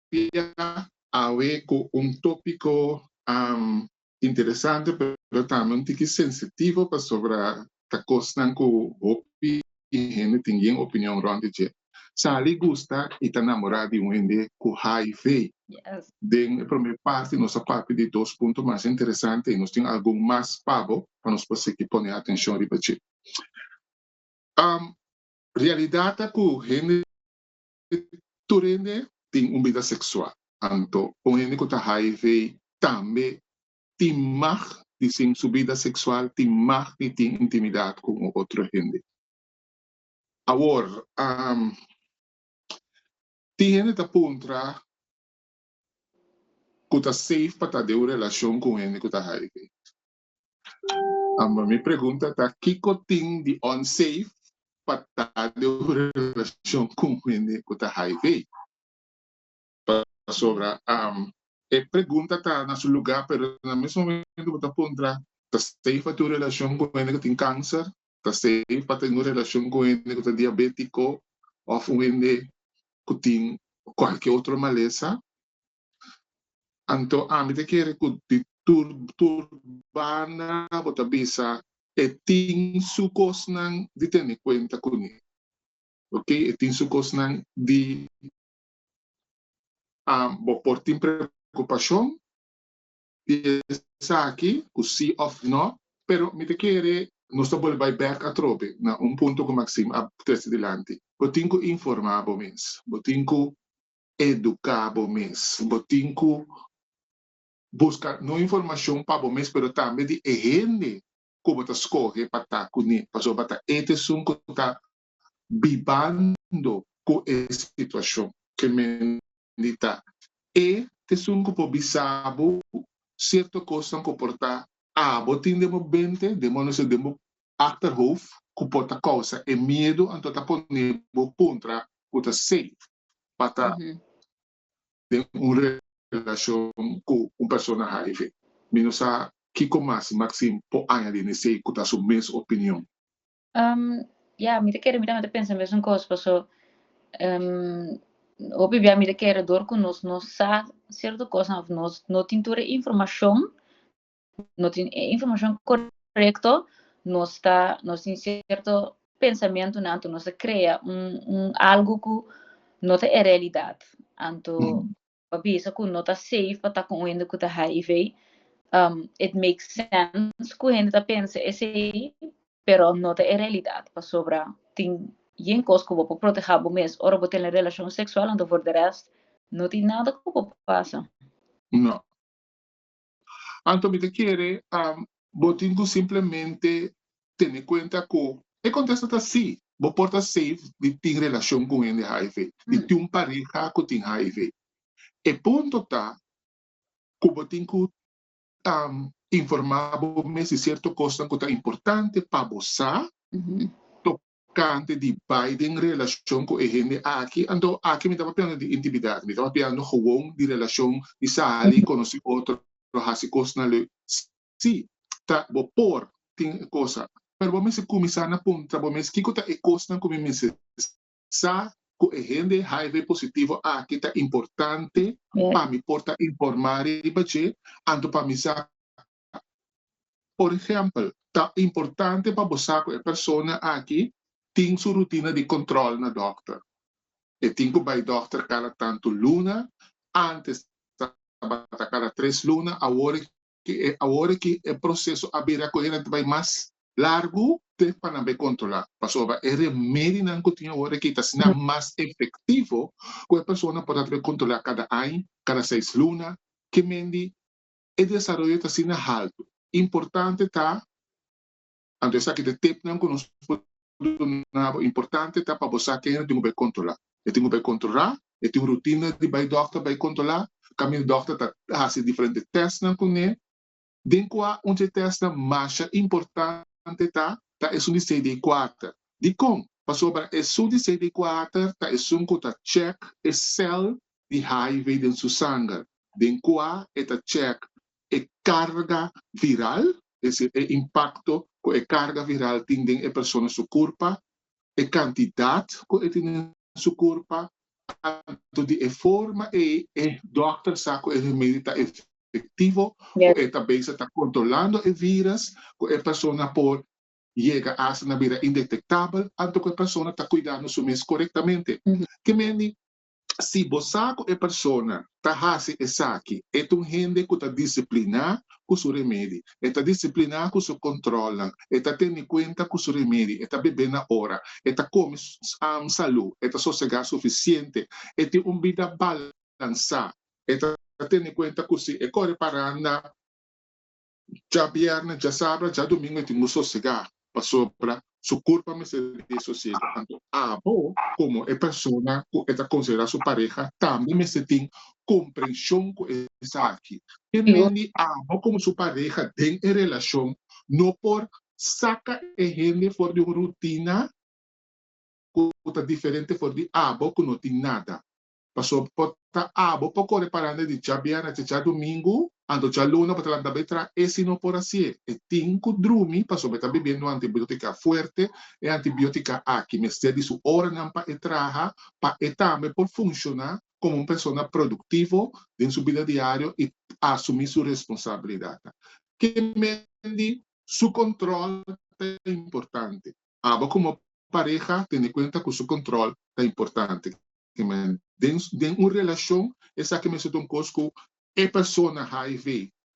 S1: dia awe cu un topico interesante pero tambe un tiki sensitivo pasobra ta cosnan cu hopi hende tin bien opinion rond di dje. Sali gusta y ta namora di un hende cu hiv. Den
S2: e prome
S1: parti nos a papia di dos punto mas interesante y nos tin algun mas pa bo pa nos por sigi pone atencion riba dje. Realidad ta cu hende tur hende tin un bida seksual. Anto un hende ku ta hiv tambe tin mag di sin su bida seksual, tin mag di tin intimidat ku un otro hende. Awor, tin hende ta puntra ku ta safe pa ta den un relashon ku un hende ku ta hiv. Amba mi pregunta ta kiko tin di unsafe pa ta den un relacion cu un hende cu ta hiv? Pasobra e pregunta ta na su lugar pero na mes momento bo ta puntra ta safe pa tin un relacion cu un hende cu tin cancer? Ta safe pa tin un relacion cu un hende cu ta diabetico of un hende cu tin cualkier otro malesa? Anto ami ta kere ku di tur tur banda bo ta bisa e tin su kosnan di tene kuenta kuné. Ok, e tin su kosnan di bo por tin preokupashon di esaki ku si òf nò, pero mi ta kere nos ta bole bai bèk atrobe na un punto ku Maxime a trese dilanti. Bo tin ku informá bo mes, bo tin ku educa bo mes. Bo tin cu busca no informacion pa bo mes pero tambe di e hende cu bo ta scoge pa ta cu ne pasobra bo ta e esun cu ta bibando cu e situacion. Ke men di ta e esun cu por bisa bo cierto cosnan cu por ta abo tin den bo bente, den bo nece, den bo achterhoofd ku por ta kousa e miedu anto ta pone bo kontra ku ta safe pa ta den un relashon ku un persona hiv. Mi no sa kiko mas si Maxine por añadi n'esei ku ta su mes opinion.
S2: Ya, mi ta kere, mi tambe ta pensa e mesun kos, paso hopi bia mi ta kere dor ku nos no sa sierto kosnan òf nos no tin tur e informashon no tin e informashon korekto, nos ta, nos tin sierto pensamentunan anto nos ta krea un un algu ku no ta e realidat. Anto pa bisa ku no ta safe pa ta ku un hende ku ta hiv, it make sense ku hende ta pensa esei, pero no ta e realidat pasobra tin yen kos ku bo por protehá bo mes ora bo tene relashon seksual, anto for de rèst no tin nada ku por pasa. No.
S1: Anto mi ta kere bo tin ku simplemente tene kuenta ku e kontesto ta sí, bo por ta safe di tin relashon ku un hende hiv, di tin un pareha ku tin hiv. E punto ta ku bo tin ku informá bo mes di sierto kosnan ku ta importante pa bo sa, kante di bai den relashon ku e hende aki, anto aki mi tabatin ando di intimidat, mi tabatin ando gewoon di relashon di sali, konosí otro, hasi kosnan leu. Sí, ta bo por tin e kosa, pero bo mester kuminsá na puntra bo mes kiko ta e kosnan ku mi mester sa ku e hende hiv positivo aki ta importante pa mi por ta informá riba dje, anto pa mi sa Por ehempel, ta importante pa bo sa ku e persona aki tin su rutina di kòntròl na dòkter. E tin ku bai dòkter kada tantu luna, ántes tabata kada tres luna, awor awor aki e proseso a bira ku ayi ta bai mas largu te pa nan bai kontrolá. Pasobra e remedinan ku tin awor aki ta asina mas efektivo ku e persona por a tabata kontrolá kada aña, kada seis luna, kemen di. e desaroyo ta asina haltu. Importante ta, anto esaki ta e tipnan ku nos por duna bo, importante ta pa bo sa kenhen e tin ku bai kontrolá. E tin ku bai kontrolá, e tin un rutina di bai dòkter bai kontrolá, kaminda dòkter ta hasi diferente tèstnan kuné, den kua un di e tèstnan masha importante ta ta esun di CD4. Dikon? Pasobra esun di CD4 ta esun ku ta chèk e sèl di hiv den su sanger, den kua e ta check e carga viral, es decir, e impacto cu e carga viral tin den e persona su curpa, e cantidad cu e tin den su curpa, tanto di e forma ey e dokter sa cu e remedio ta efectivo, cu e ta
S2: bezig ta
S1: controlando e virus, cu e persona por yega asta na bira indetectabel, anto cu e persona ta cuidando su mes corectamente. Kimendi Si bo sa ku e persona ta hasi esaki, e ta un hende ku ta disipliná ku su remedi. E ta disipliná ku su kòntròlnan. E ta tene kuenta ku su remedi. E ta bebé na ora. E ta kome salú. E ta sosegá sufisiente. E tin un bida balansá. E ta tene kuenta ku si e kore paranda. Dja bièrnè, dja sabra, dja dumingu e tin bo sosegá pasobra su kurpa mester di e sosiegu. Anto abo, komo e persona ku e ta konsiderá su pareha, tambe mester tin komprenshon ku esaki. Ke men di abo komo su pareha den e relashon no por saka e hende for di un rutina ku ta diferente for di abo ku no tin nada. Pasobra por ta abo pa kore paranda di djabièrnè te djadumingu, anto djaluna bo ta lanta bai tra e si no por hasié. E tin ku drumi pasobra e ta bebiendo un antibiótika fuerte. E antibiótika aki mester di su oranan pa e traha pa e tambe por funshoná komo un persona produktivo den su bida diario i asumí su responsabilidatnan. Ke men di su kòntròl ta importante? Abo komo pareha tene kuenta ku su kontròl ta importante. Kiman den den un relashon esaki mester ta un kos ku e persona HIV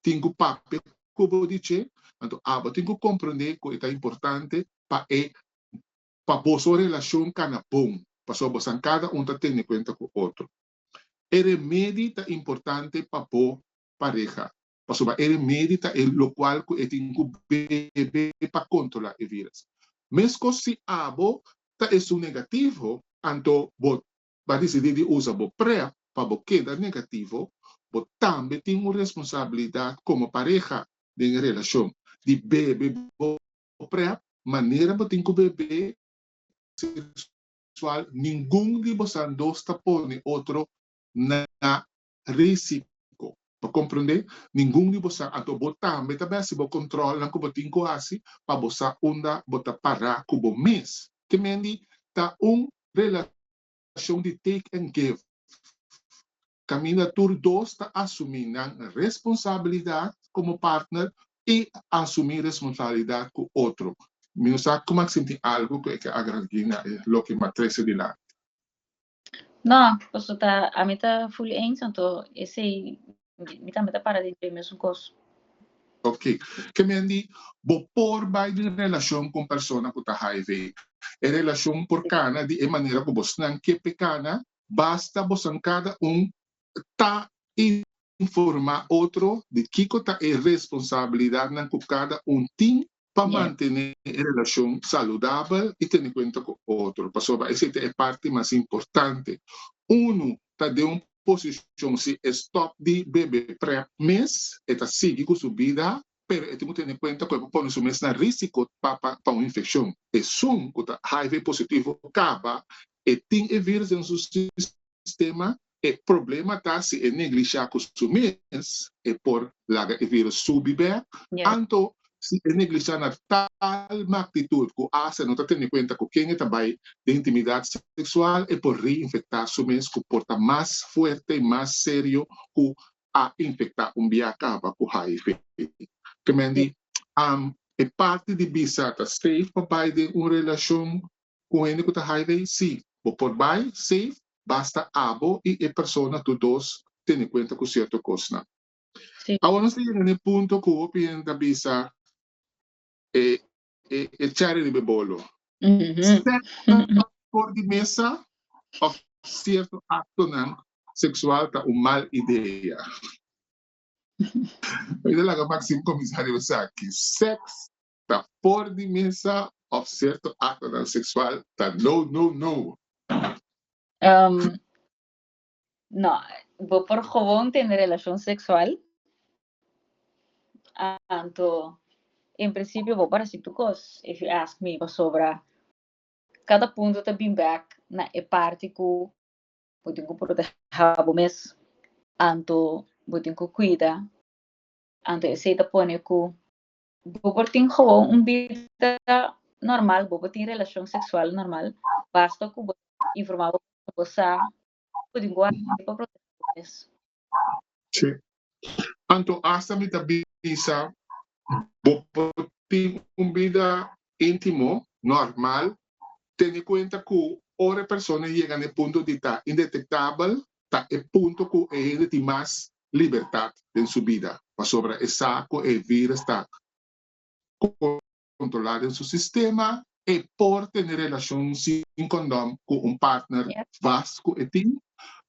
S1: tin ku papia ku bo di dje, anto abo tin ku komprendé ku e ta importante pa e pa boso relashon kana bon pasobra bosan kada un ta tene kuenta ku otro. E remedi ta importante pa bo pareha pasobra e remedi ta e locual cu e tin cu bebe pa controla e virus. Mescos si abo ta esun negativo, anto bo ta dicidi di usa bo prep pa bo keda negativo, bo tambe tin un responsabilidad como pareha den e relacion di bebe bo prep manera bo tin cu bebe sexual. Ningun di bosan dos ta pone otro na risiko. Pa komprendé, ningun di boso anto bo tambe ta bèsi bo kòntròl nan ku bo tin ku hasi pa bo sa unda bo ta pará ku bo mes. Ke mendi ta un relashon di take and give. Kaminda tur dos ta asumí nan responsabilidat komo partner i asumí responsabilidat ku otro. Mi no sa kuma sinti algu ku e ke agradí na e loke Matrese di Landi.
S2: No, paso ta ami ta full eens anto esey mi tambe ta para di dje mesun cos. Ok,
S1: ke men di bo por bay den relacion cu un persona cu ta hiv. E relacion por cana di e manera cu bosnan ke pe cana basta bosan cada un ta informa otro di kico ta e responsabilidadnan cu cada un tin pa mantené e relashon saludabel i tene kuenta ku otro. Pasobra esei ta e parti mas importante. Unu ta den un posishon, si e stòp di bebe prèp mes, e ta sigui ku su bida, pero e tin ku tene kuenta ku e por pone su mes na rísiko pa pa un infekshon. Esun ku ta hiv positivo kaba e tin e vírus den su sistema E problema ta si e neglishá ku su mes e por laga e virus subi bèk anto si e neglishá na tal magnitud ku asta e no ta tene kuenta ku ken e ta bai den intimidat seksual e por reinfektá su mes ku por ta mas fuerte i mas serio ku a infektá un bia kaba ku hiv. Ke men di e parti di bisa ta safe pa bai den un relashon ku hende ku ta hiv? Sí, bo por bai safe basta abo i e persona tur dos tene kuenta ku sierto kosnan. Awor nos ta yega na e punto ku hopi hende ta bisa e e chari riba e bolo, sekso for di mesa òf sierto aktonan seksual ta un mal idea. Mi ta laga Maxim kuminsá riba esaki. Sèks ta for di mesa of cierto actonan sexual ta no
S2: no no. Um, no, bo por gewoon tende relacion sexual, anto en principio bo por haci tu cos, if you ask me, pasobra cada punto ta bin bek na e parti cu bo tin cu proteha bo mes, anto bo tin cu cuida, anto esey ta pone cu Bobo tin gewoon un bida normal, bobo tin relashon seksual normal, basta ku bo ta informá bobo ku bo sa ku di bo hasi pa protegé bo mes. Sí.
S1: Anto asta mi ta bisa bobo tin un bida íntimo normal, tenié kuenta ku ora e persona yega na e punto di ta indetektabel ta e punto ku e hende tin mas libertat den su bida, pasobra e sa ku e vírus ta kontrolá den su sistema, e por tene relashon sin kondom ku un partner vas ku e tin,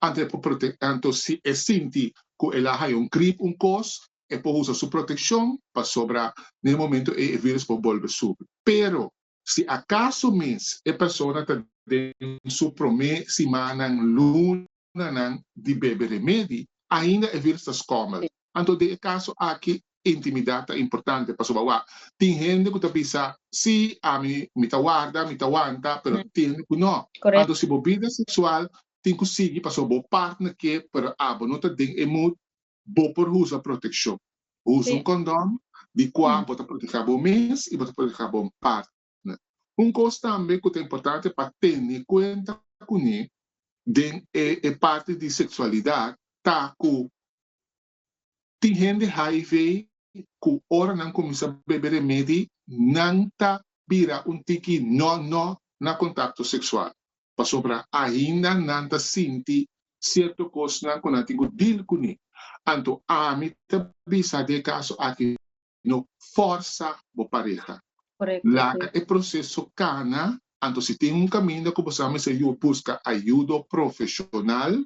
S1: anto si e sinti ku el a haña un grip un kos, e por usa su protekshon pasobra na e momentu ei e vírùs por bolbe subi. Pero, si akaso mes e persona ta den su promé simannan, lunanan di bebe remedi, ainda e vírùs ta skòmel. Anto den e kaso aki intimidat ta importante pasobra wak tin hende ku ta bisa, Sí, ami mi ta warda, mi ta wanta, pero tin hende ku no. Anto si bo bida seksual tin ku sigui pasobra bo partner ke, pero abo no ta den e mood, Bo por usa protekshon. Bo usa un kondòn di kua bo ta protehé abo mes i bo ta protehé bo partner. Un kos tambe ku ta importante pa tene kuenta kuné den e parti di seksualidat ta ku tin hende hiv ku ora nan kuminsá bebe remedi nan ta bira un tiki nò nò na kontakto seksual. pasobra ainda nan ta sinti cierto cosnan cu nan tin cu deal cuni. Anto ami ta bisa den e caso aki, no forsa bo pareha. Laga e proceso cana, anto si tin un caminda cu bo sa mester yu busca ayudo profesional,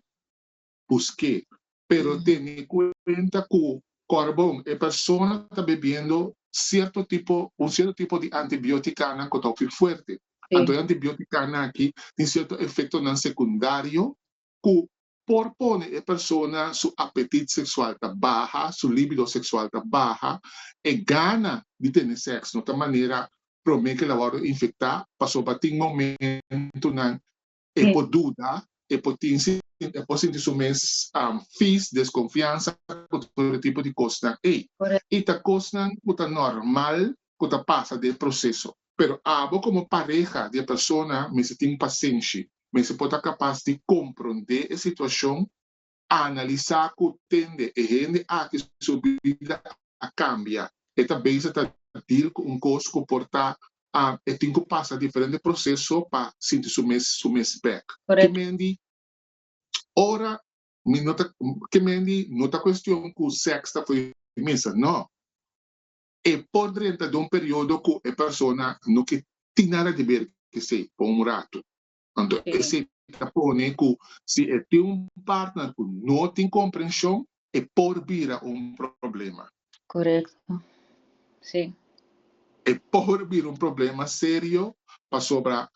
S1: busk'é, pero tene kuenta ku kòrbon e persona ta bebiendo sierto tipo un sierto tipo di antibiotikanan ku ta hopi fuerte. Anto e antibiotikanan aki tin sierto efektonan sekundario ku por pone e persona su apetit seksual ta baha, su líbido seksual ta baha, e gana di tene sèks no ta manera promé ku el a wòrdu infektá pasobra tin momentunan E por duda, e por tin si, e por sinti su mes vis, deskonfiansa ku tur e tipo di kosnan ei. I ta kosnan ku ta normal ku ta pasa den e proseso. Pero abo komo pareha di e persona mester tin pasenshi, mester por ta kapas di komprondé e situashon, analisá ku tende e hende aki su bida a kambia. E ta beza ta dil ku un kos ku por ta e tin ku pasa diferente proses so pa sinti su mes su mes bèk. Ki mendi ora mi no ta ki mendi no ta kuestion ku sèks ta fo'i misa, nò. E por drenta den un periodo ku e persona no ke tin nada di ber esei pa un ratu. Anto esei ta pone ku si e tin un partner ku no tin komprenshon e por bira un problema. Korekto.
S2: Si. E
S1: por bira un problema serio pasobra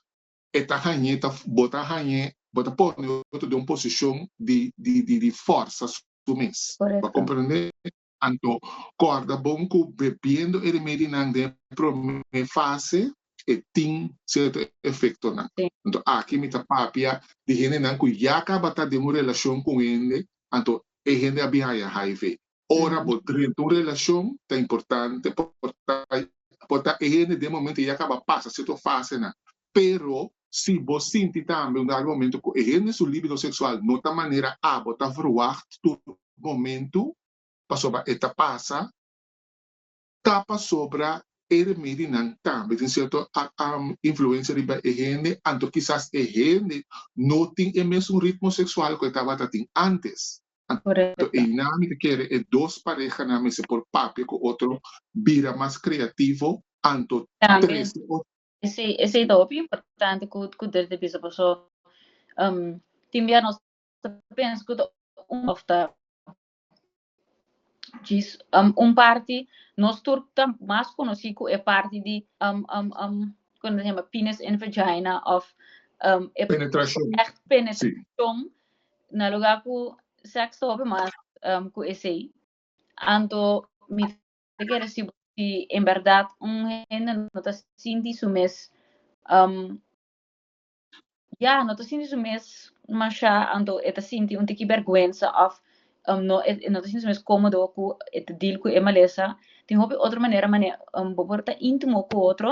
S1: e ta hañ'é ta bo ta hañ'é bo ta pone otro den un posishon di di di di fòrsa su mes. Korekto. Bo a komprende? Anto, kòrda bon ku bebiendo e remedinan den e promé fase e tin sierto efektonan. Anto aki mi ta papia di hendenan ku ya kaba ta den un relashon ku un hende, anto e hende a bin haña hiv. Ora bo drenta un relashon ta importante, por ta e hende den momento ya kaba pasa sierto fasenan, Pero si bo sinti tambe un dado momento cu e hende su libido sexual no ta manera abo ta verwacht tur momento pasobra e ta pasa, ta pasobra e remedinan tambe tin cierto influencia riba e hende anto kisas e hende no tin e mesun ritmo sexual cu e tabata tin antes. Anto eynan mi ta kere e dos parehanan mester por papia cu otro, bira mas creativo anto trece of Esei
S2: esei ta hopi importante ku ku dert e bisa paso tin bia nos ta pensa ku ta un òf ta djis un parti nos tur ta mas konosí ku e parti di kon ta hema pines en vagina òf e Penetrashon
S1: ègt si
S2: penetrashon na lugá ku sèks ta hopi mas ku esei anto mi Ta kere si si en berdad un hende no ta sinti su mes um ya no ta sinti su mes masha anto e ta sinti un tiki bergwensa of um no e no ta sinti su mes komodo ku e ta deal ku e malesa tin hopi otro manera mane um bo por ta intimo ku otro.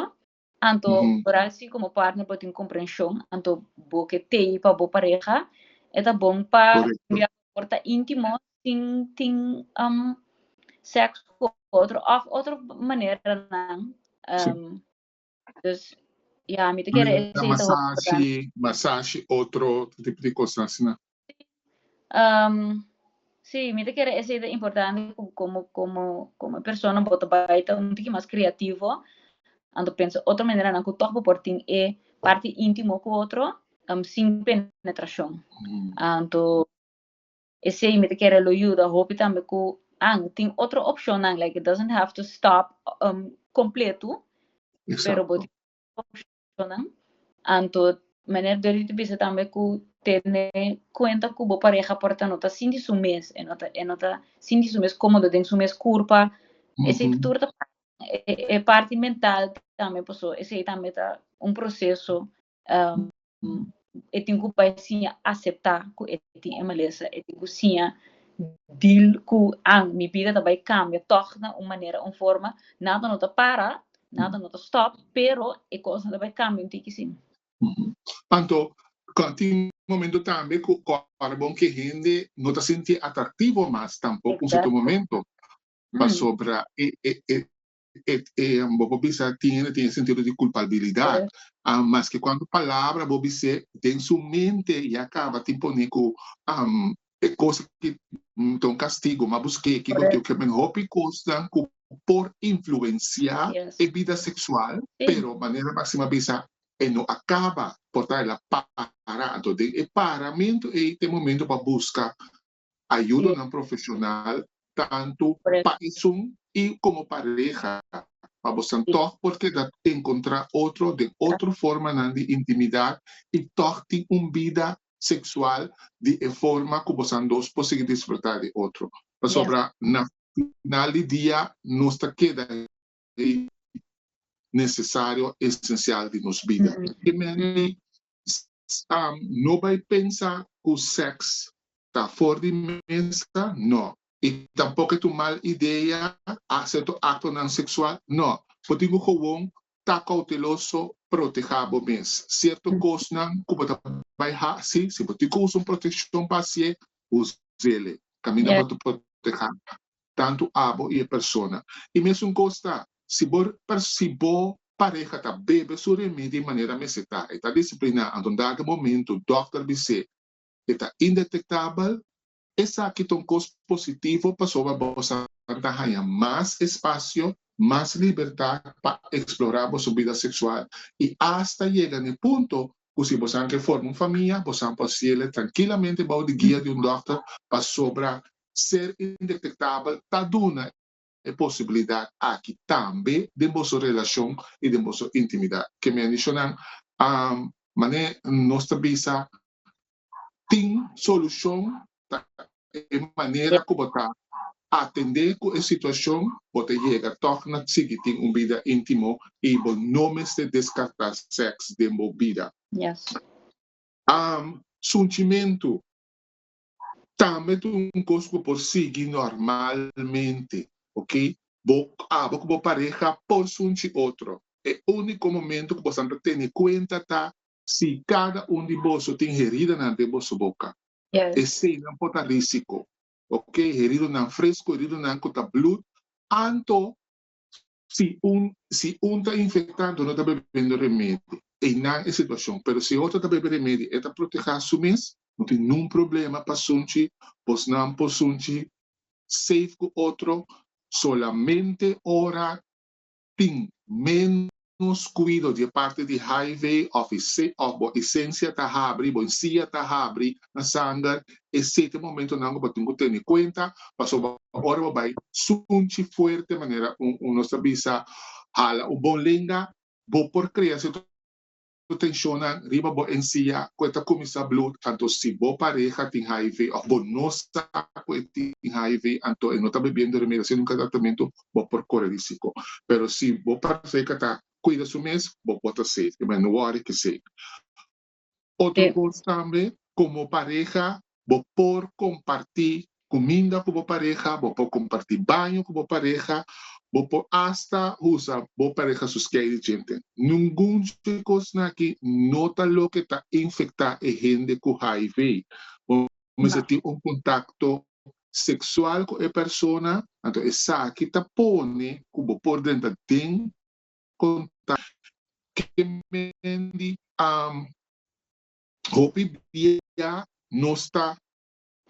S2: Anto ora si komo partner bo tin komprenshon, anto bo ke tei pa bo pareha, e ta bon pa bia por ta
S1: intimo
S2: sin tin seks ku otro òf otro maneranan.
S1: Dus,
S2: ya, mi ta kere esei ta wordo. Masashi, masashi,
S1: otro tipo di kos asina. Um,
S2: sí, mi ta kere esei ta importante ku komo komo komo e persona bo ta bai ta un tiki mas kreativo, anto pensa otro maneranan ku tòg bo por tin e parti íntimo ku otro, um sin penetrashon. Anto esei mi ta kere lo yuda hopi tambe ku an tin otro opshonnan, like it doesn't have to stop um kompletu, pero bo tin otro
S1: opshonnan.
S2: relashonan. Anto manera Dorothy ta bisa tambe ku tene kuenta ku bo pareha por ta no ta sinti su mes, e no ta e no ta sinti su mes komodo den su mes kurpa, esei tur ta pasa e parti mental tambe, paso esei tambe ta un proseso e tin ku bai siña aseptá ku e tin e malesa, e tin ku siña dil ku an mi bida ta bai kambia tòg na un manera un forma, nada no ta para, nada no ta stòp, pero e kosnan ta bai kambia un tiki si. Anto
S1: tin momento tambe ku ora bo ke hende no ta sinti atraktivo mas tampok un serto momento pasobra e bo por bisa tin e na tin e sentido di culpabilidad maske cuando palabra bo bis'é den su mente i a caba tin pone cu e cos aki ta un castigo ma busqué kico ta oca men hopi cosnan cu por influencia e bida sexual pero manera Maximo a bisa e no a caba por ta el a para anto den e paramento ei ta e momento pa busca Ayudonan profesional tantu pa esun i komo pareha pa bosan tòg por keda enkontrá otro den otro formanan di intimidá i tòg tin un bida seksual di e forma ku bosan dos por sigui disfrutá di otro. Pasobra na final di dia nos ta keda di nesesario o esensial di nos bida. E menti no bai pensa ku sèks ta for di mesa, nò. I tampok e tur mal idea a serto aktonan seksual, nò. Bo tin ku kowon ta kouteloso, protehá bo mes. Sierto kosnan ku bo ta bai hasi, si bo tin ku usa un proteshon pa hasié, us'é. Kaminda bo ta protehá tantu abo i e persona. I mesun kos ta si bo si bo pareha ta bebe su remidi manera mester ta, e ta disipliná, anto un dado momentu dòkter bis'é e ta indetektabel, esaki ta un kos positivo pasobra bosan ta haña mas espasio, mas libertat pa eksplorá boso bida seksual i asta yega n'e punto ku si bosan ke forma un famia bosan por hasiel trankilamente bou di guia di un dòkter pasobra ser indetectabel ta duna e posibilidad aki tambe den boso relacion y den boso intimidad. Ke mi a dicho nan, mane nos ta bisa tin solucion ta e manera cu bo ta atende cu e situacion, bo ta yega tog na sigui tin un bida intimo y bo no mester descarta sex den bo bida. Sunchimento. tambe ta un cos cu por sigui normalmente, ok. Bo, abo cu bo pareha por sunchi otro, e unico momento cu boso ta tene cuenta ta si cada un di boso tin heridanan den boso boca. Eseynan por ta risico, ok. Heridonan fresco, heridonan cu ta bloed, anto Si un si un ta infecta enton no ta bebendo remedi einan e situacion pero si e otro ta bebe remedi e ta proteha su mes no tin nun problema pasunchi bosnan por sunchi safe cu otro solamente ora tin menos cuido di e parti di highway of e se of bo esencia ta habri bo ensia ta habri na Sander e sete momentonan ku bo tin ku tene kuenta, pasobra ora bo bai sunchi fuerte manera nos ta bisa hala un bon lenga, bo por krea sierto tenshonnan riba bo ensia ku e ta kuminsá blu, tantu si bo pareha tin hiv òf bo no sa ku e tin hiv anto e no ta bibiendo remedi hasiendo un tratamentu bo por kore risiko. Pero si bo pareha ta kuida su mes bo por ta safe, e manera no wòri ke safe. Otro cos tambe, como pareha bo por comparti cuminda cu bo pareha, bo por comparti baño cu bo pareha, bo por hasta usa bo pareha su skei di djente. Nungun dje cosnan aki no ta loke ta infecta e hende cu hiv. Bo mester tin un contacto sexual cu e persona, anto esaki ta pone cu bo por drenta den. konta ke Mandy a hopi dia nos ta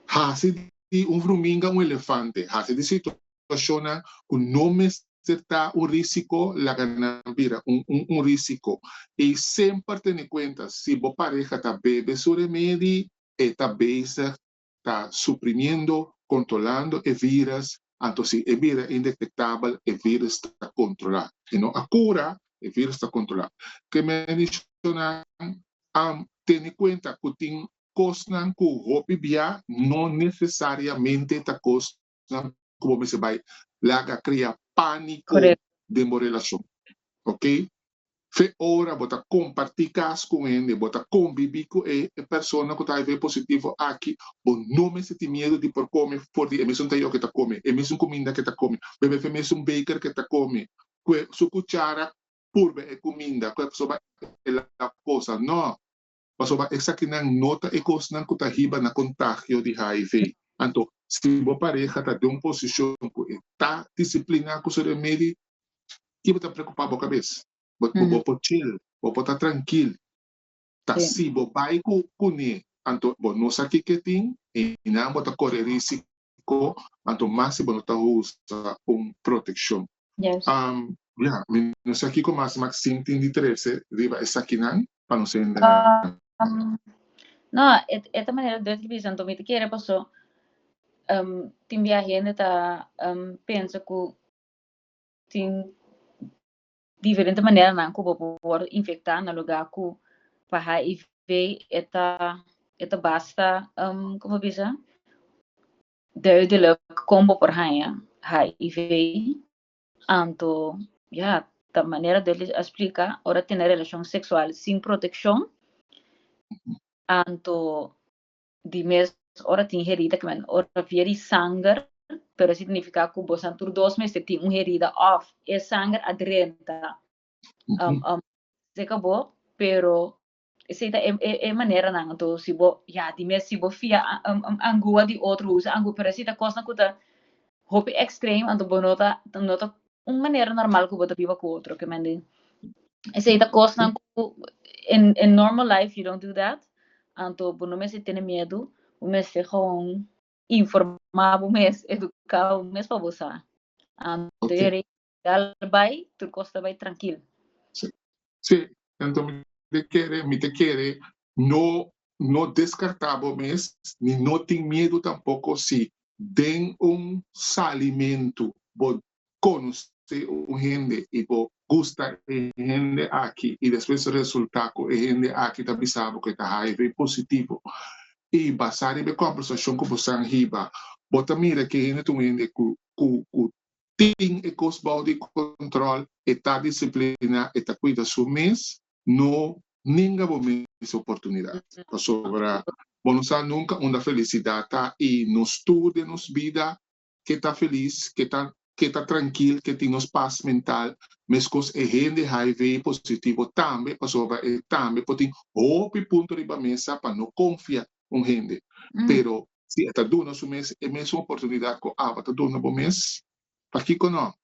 S1: hasi di un fruminga un elefante, hasi di situashonnan ku no mester ta un risiko laga nan bira un risiko. I semper tene kuenta si bo pareha ta bebe su remedi, e ta bezig ta suprimiendo controlando e virus anto si e bira indetectabel e virus ta controla e no a cura e virus ta controla ke menshonan a tene cuenta cu tin cosnan cu hopi bia no necesariamente ta cos nan ku bo mester bai laga krea pániko den bo relashon. Oke, fe ora bo ta kompartí kas ku un hende, bo ta kombibí ku e persona ku ta HIV positivo aki, bo no mester tin miedu di por kome for di e mesun tayó ke ta kome, e mesun kuminda ke ta kome, bebe fe mesun beker ke ta kome, ku e su kuchara purba e kuminda, ku e pasobra e lap kosa. No! Pasobra esakinan no ta e kosnan ku ta hiba na kontagio di hiv. Anto, si bo pareha ta den un posishon ku e ta disipliná ku su remedi, ki bo ta preokupá bo kabes? Bo bo por chil, bo por ta trankil. Ta si bo bai ku kuné, anto bo no sa kiko e tin, einan bo ta kore rísiko Ko, anto mas si bo no ta usa un protekshon.
S2: Yes. Ya, mi
S1: no sa kiko mas Maxine tin di trese riba esakinan pa no ser engañá. No,
S2: e ta manera Dutch di bisa, anto mi ta kere pasó, tin bia hende ta pensa ku tin Diferente maneranan ku bo por wòrdu infektá na lugá ku pa HIV e ta e ta basta um como bo bisa duidelijk kon bo por haña HIV anto ya ta manera duidelijk a splika ora tene relashon seksual sin protekshon anto Di mes ora tin herida ke men ora via di sanger, pero e significa cu bosan tur dos mester tin un herida of e sanger a drenta seca bo, pero esey ta e maneranan. Anto si bo ya di mes si bo fia angua di otro usa angua, pero esey ta cosnan cu ta hopi extremo anto bo no ta no ta un manera normal ku bo ta biba ku otro ke mende esei ta kosnan ku en en normal life you dont do dat anto bo no mester tene miedu bo mester gewoon informá bo mes eduká bo mes pa bo sa anto e rei al bai tur kos ta bai trankil. Si
S1: si enton mi ta kere mi ta kere No no descarta bo mes ni no tin miedu tampoco si den un salimentu bo conoce un hende y bo gusta e hende aki y despues resulta cu e hende aki ta bisa bo cu e ta hiv positivo y basa riba e conversacion cu bo san hiba bo ta mira cu e hende ta un hende cu cu cu tin e cos bao di control e ta disciplina e ta cuida su mes no ninga bo mes oportunidad, pasobra bo no sa nunca unda felicidad ta y nos tur den nos bida ke ta feliz, ke ta ke ta trankil, ke tin nos paz mental, meskos e hende hiv positivo tambe, pasobra e tambe por tin hopi punto riba mesa pa no confia un hende, pero si e ta duna su mes e mesun oportunidad cu aba ta duna bo mes, pakico no?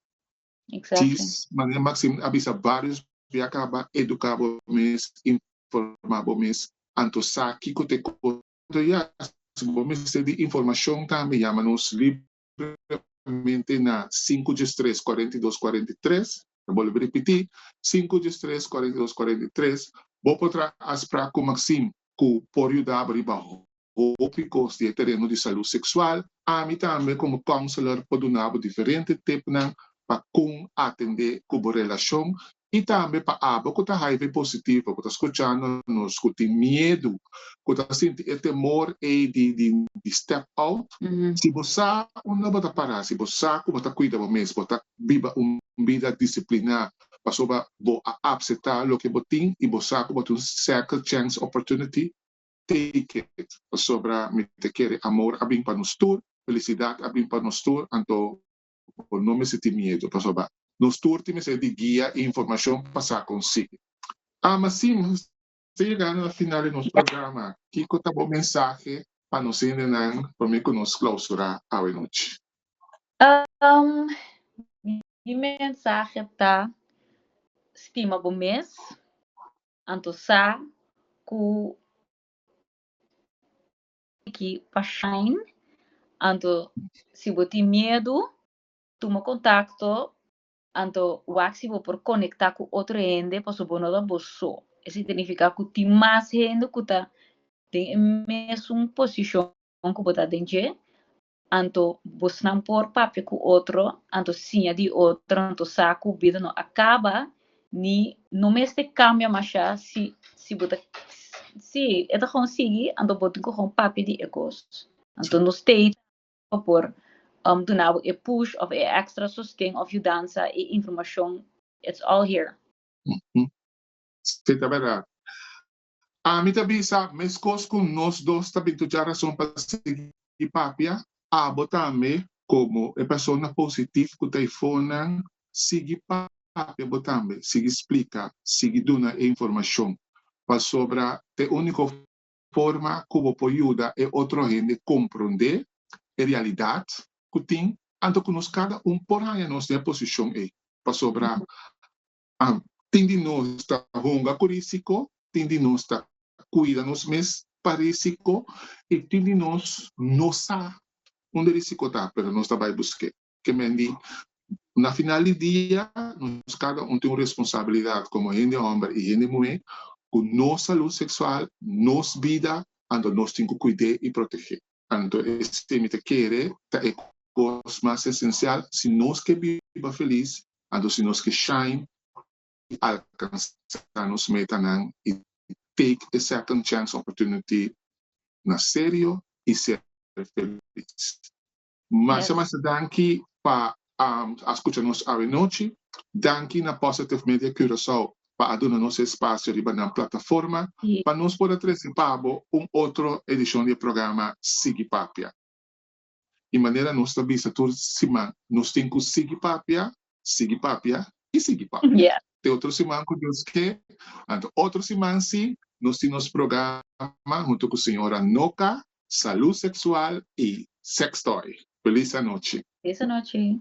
S1: Exactly. Cis, Maria Maxim a bisa varios bia caba educa bo mes, informa bo mes anto sa kico ta e cosa anto ya si bo mester di informacion tambe yama nos libremente na sinku djes tres cuarenta i dos cuarenta i tres, ta bolbe ripiti sinku djes tres cuarenta i dos cuarenta i tres, bo por traha afsprak cu Maxim ku por yudaba riba hopi kos di e tereno di salú seksual. Ami tambe komo kounsler por duna bo diferente tipnan pa kon atendé ku bo relashon i tambe pa abo ku ta hiv positivo ku ta skuchando nos ku tin miedu, ku ta sinti e temor ei di step out. Si bo sa unda bo ta pará, si bo sa ku bo ta kuida bo mes, bo ta biba un bida disipliná. pasobra bo a apseta loke bo tin y bo sa cu bo ta un second chance opportunity, take it, pasobra mi ta kere amor a bin pa nos tur, felicidad a bin pa nos tur, anto bo no mester tin miedu, pasobra nos tur tin mester di guia y informacion pa sa con sigui. Ama sin Ta yegando a final di nos programa, kiko ta bo mensahe pa nos hendenan promé ku nos klausurá awe nochi?
S2: Mi mensahe ta, Stima bo mes, anto sa ku tiki pa shine, anto si bo tin miedu, tuma kontakto Anto wak si bo por konektá ku otro hende pasobra bo no ta bo so. E signifiká ku tin mas hende ku ta den e mesun posishon ku bo ta den dje. Anto bosnan por papia ku otro, anto siña di otro, anto sa ku bida no a kaba ni no mester kambia mashá si si bo ta si e ta kon sigui anto bo tin ku kon papia di e kos. Anto nos stay. pa por duna bo e push of e extra sosten of yudansa y informacion it's all here.
S1: Si ta berdad. Ami ta bisa mescos cu nos dos ta bin tu dja rason pa sigui papia, abo tambe como e persona positif cu ta ifonan sigui papia bo tambe, sigui splica, sigui duna e informacion, pasobra t'e unico Forma ku bo por yuda e otro hende komprondé e realidat ku tin anto ku nos kada un por haña nos den e posishon ei. Pasobra tin di nos ta hunga ku risiko, tin di nos ta kuida nos mes pa risiko i tin di nos no sa unda risiko ta, pero nos ta bai busk'é. ke men di, Na final di dia nos kada un tin un responsabilidat komo hende hòmber i hende muhé ku nos salú seksual, nos bida, anto nos tin ku kuid'é i protegé. Anto esei mi ta kere ta e kos mas esensial si nos ke biba felis, anto si nos ke shine i alkansá nos metanan i take e second chance opportunity na serio i ser felis. Masa masa danki pa a skucha nos awe nochi. Danki na Positive Media Curacao pa a duna nos e spasio riba nan plataforma pa nos por a trese pa bo un otro edishon di e programa Sigui Papia. Di manera nos ta bisa tur siman, nos tin ku Sigui Papia sigui papia y sigui papia. Te otro siman
S2: cu
S1: Dios ke, anto otro siman si, nos tin nos programa hunto cu Señora Noka, Salud Sexual y Sextoy. Feliz anochi. Feliz anochi.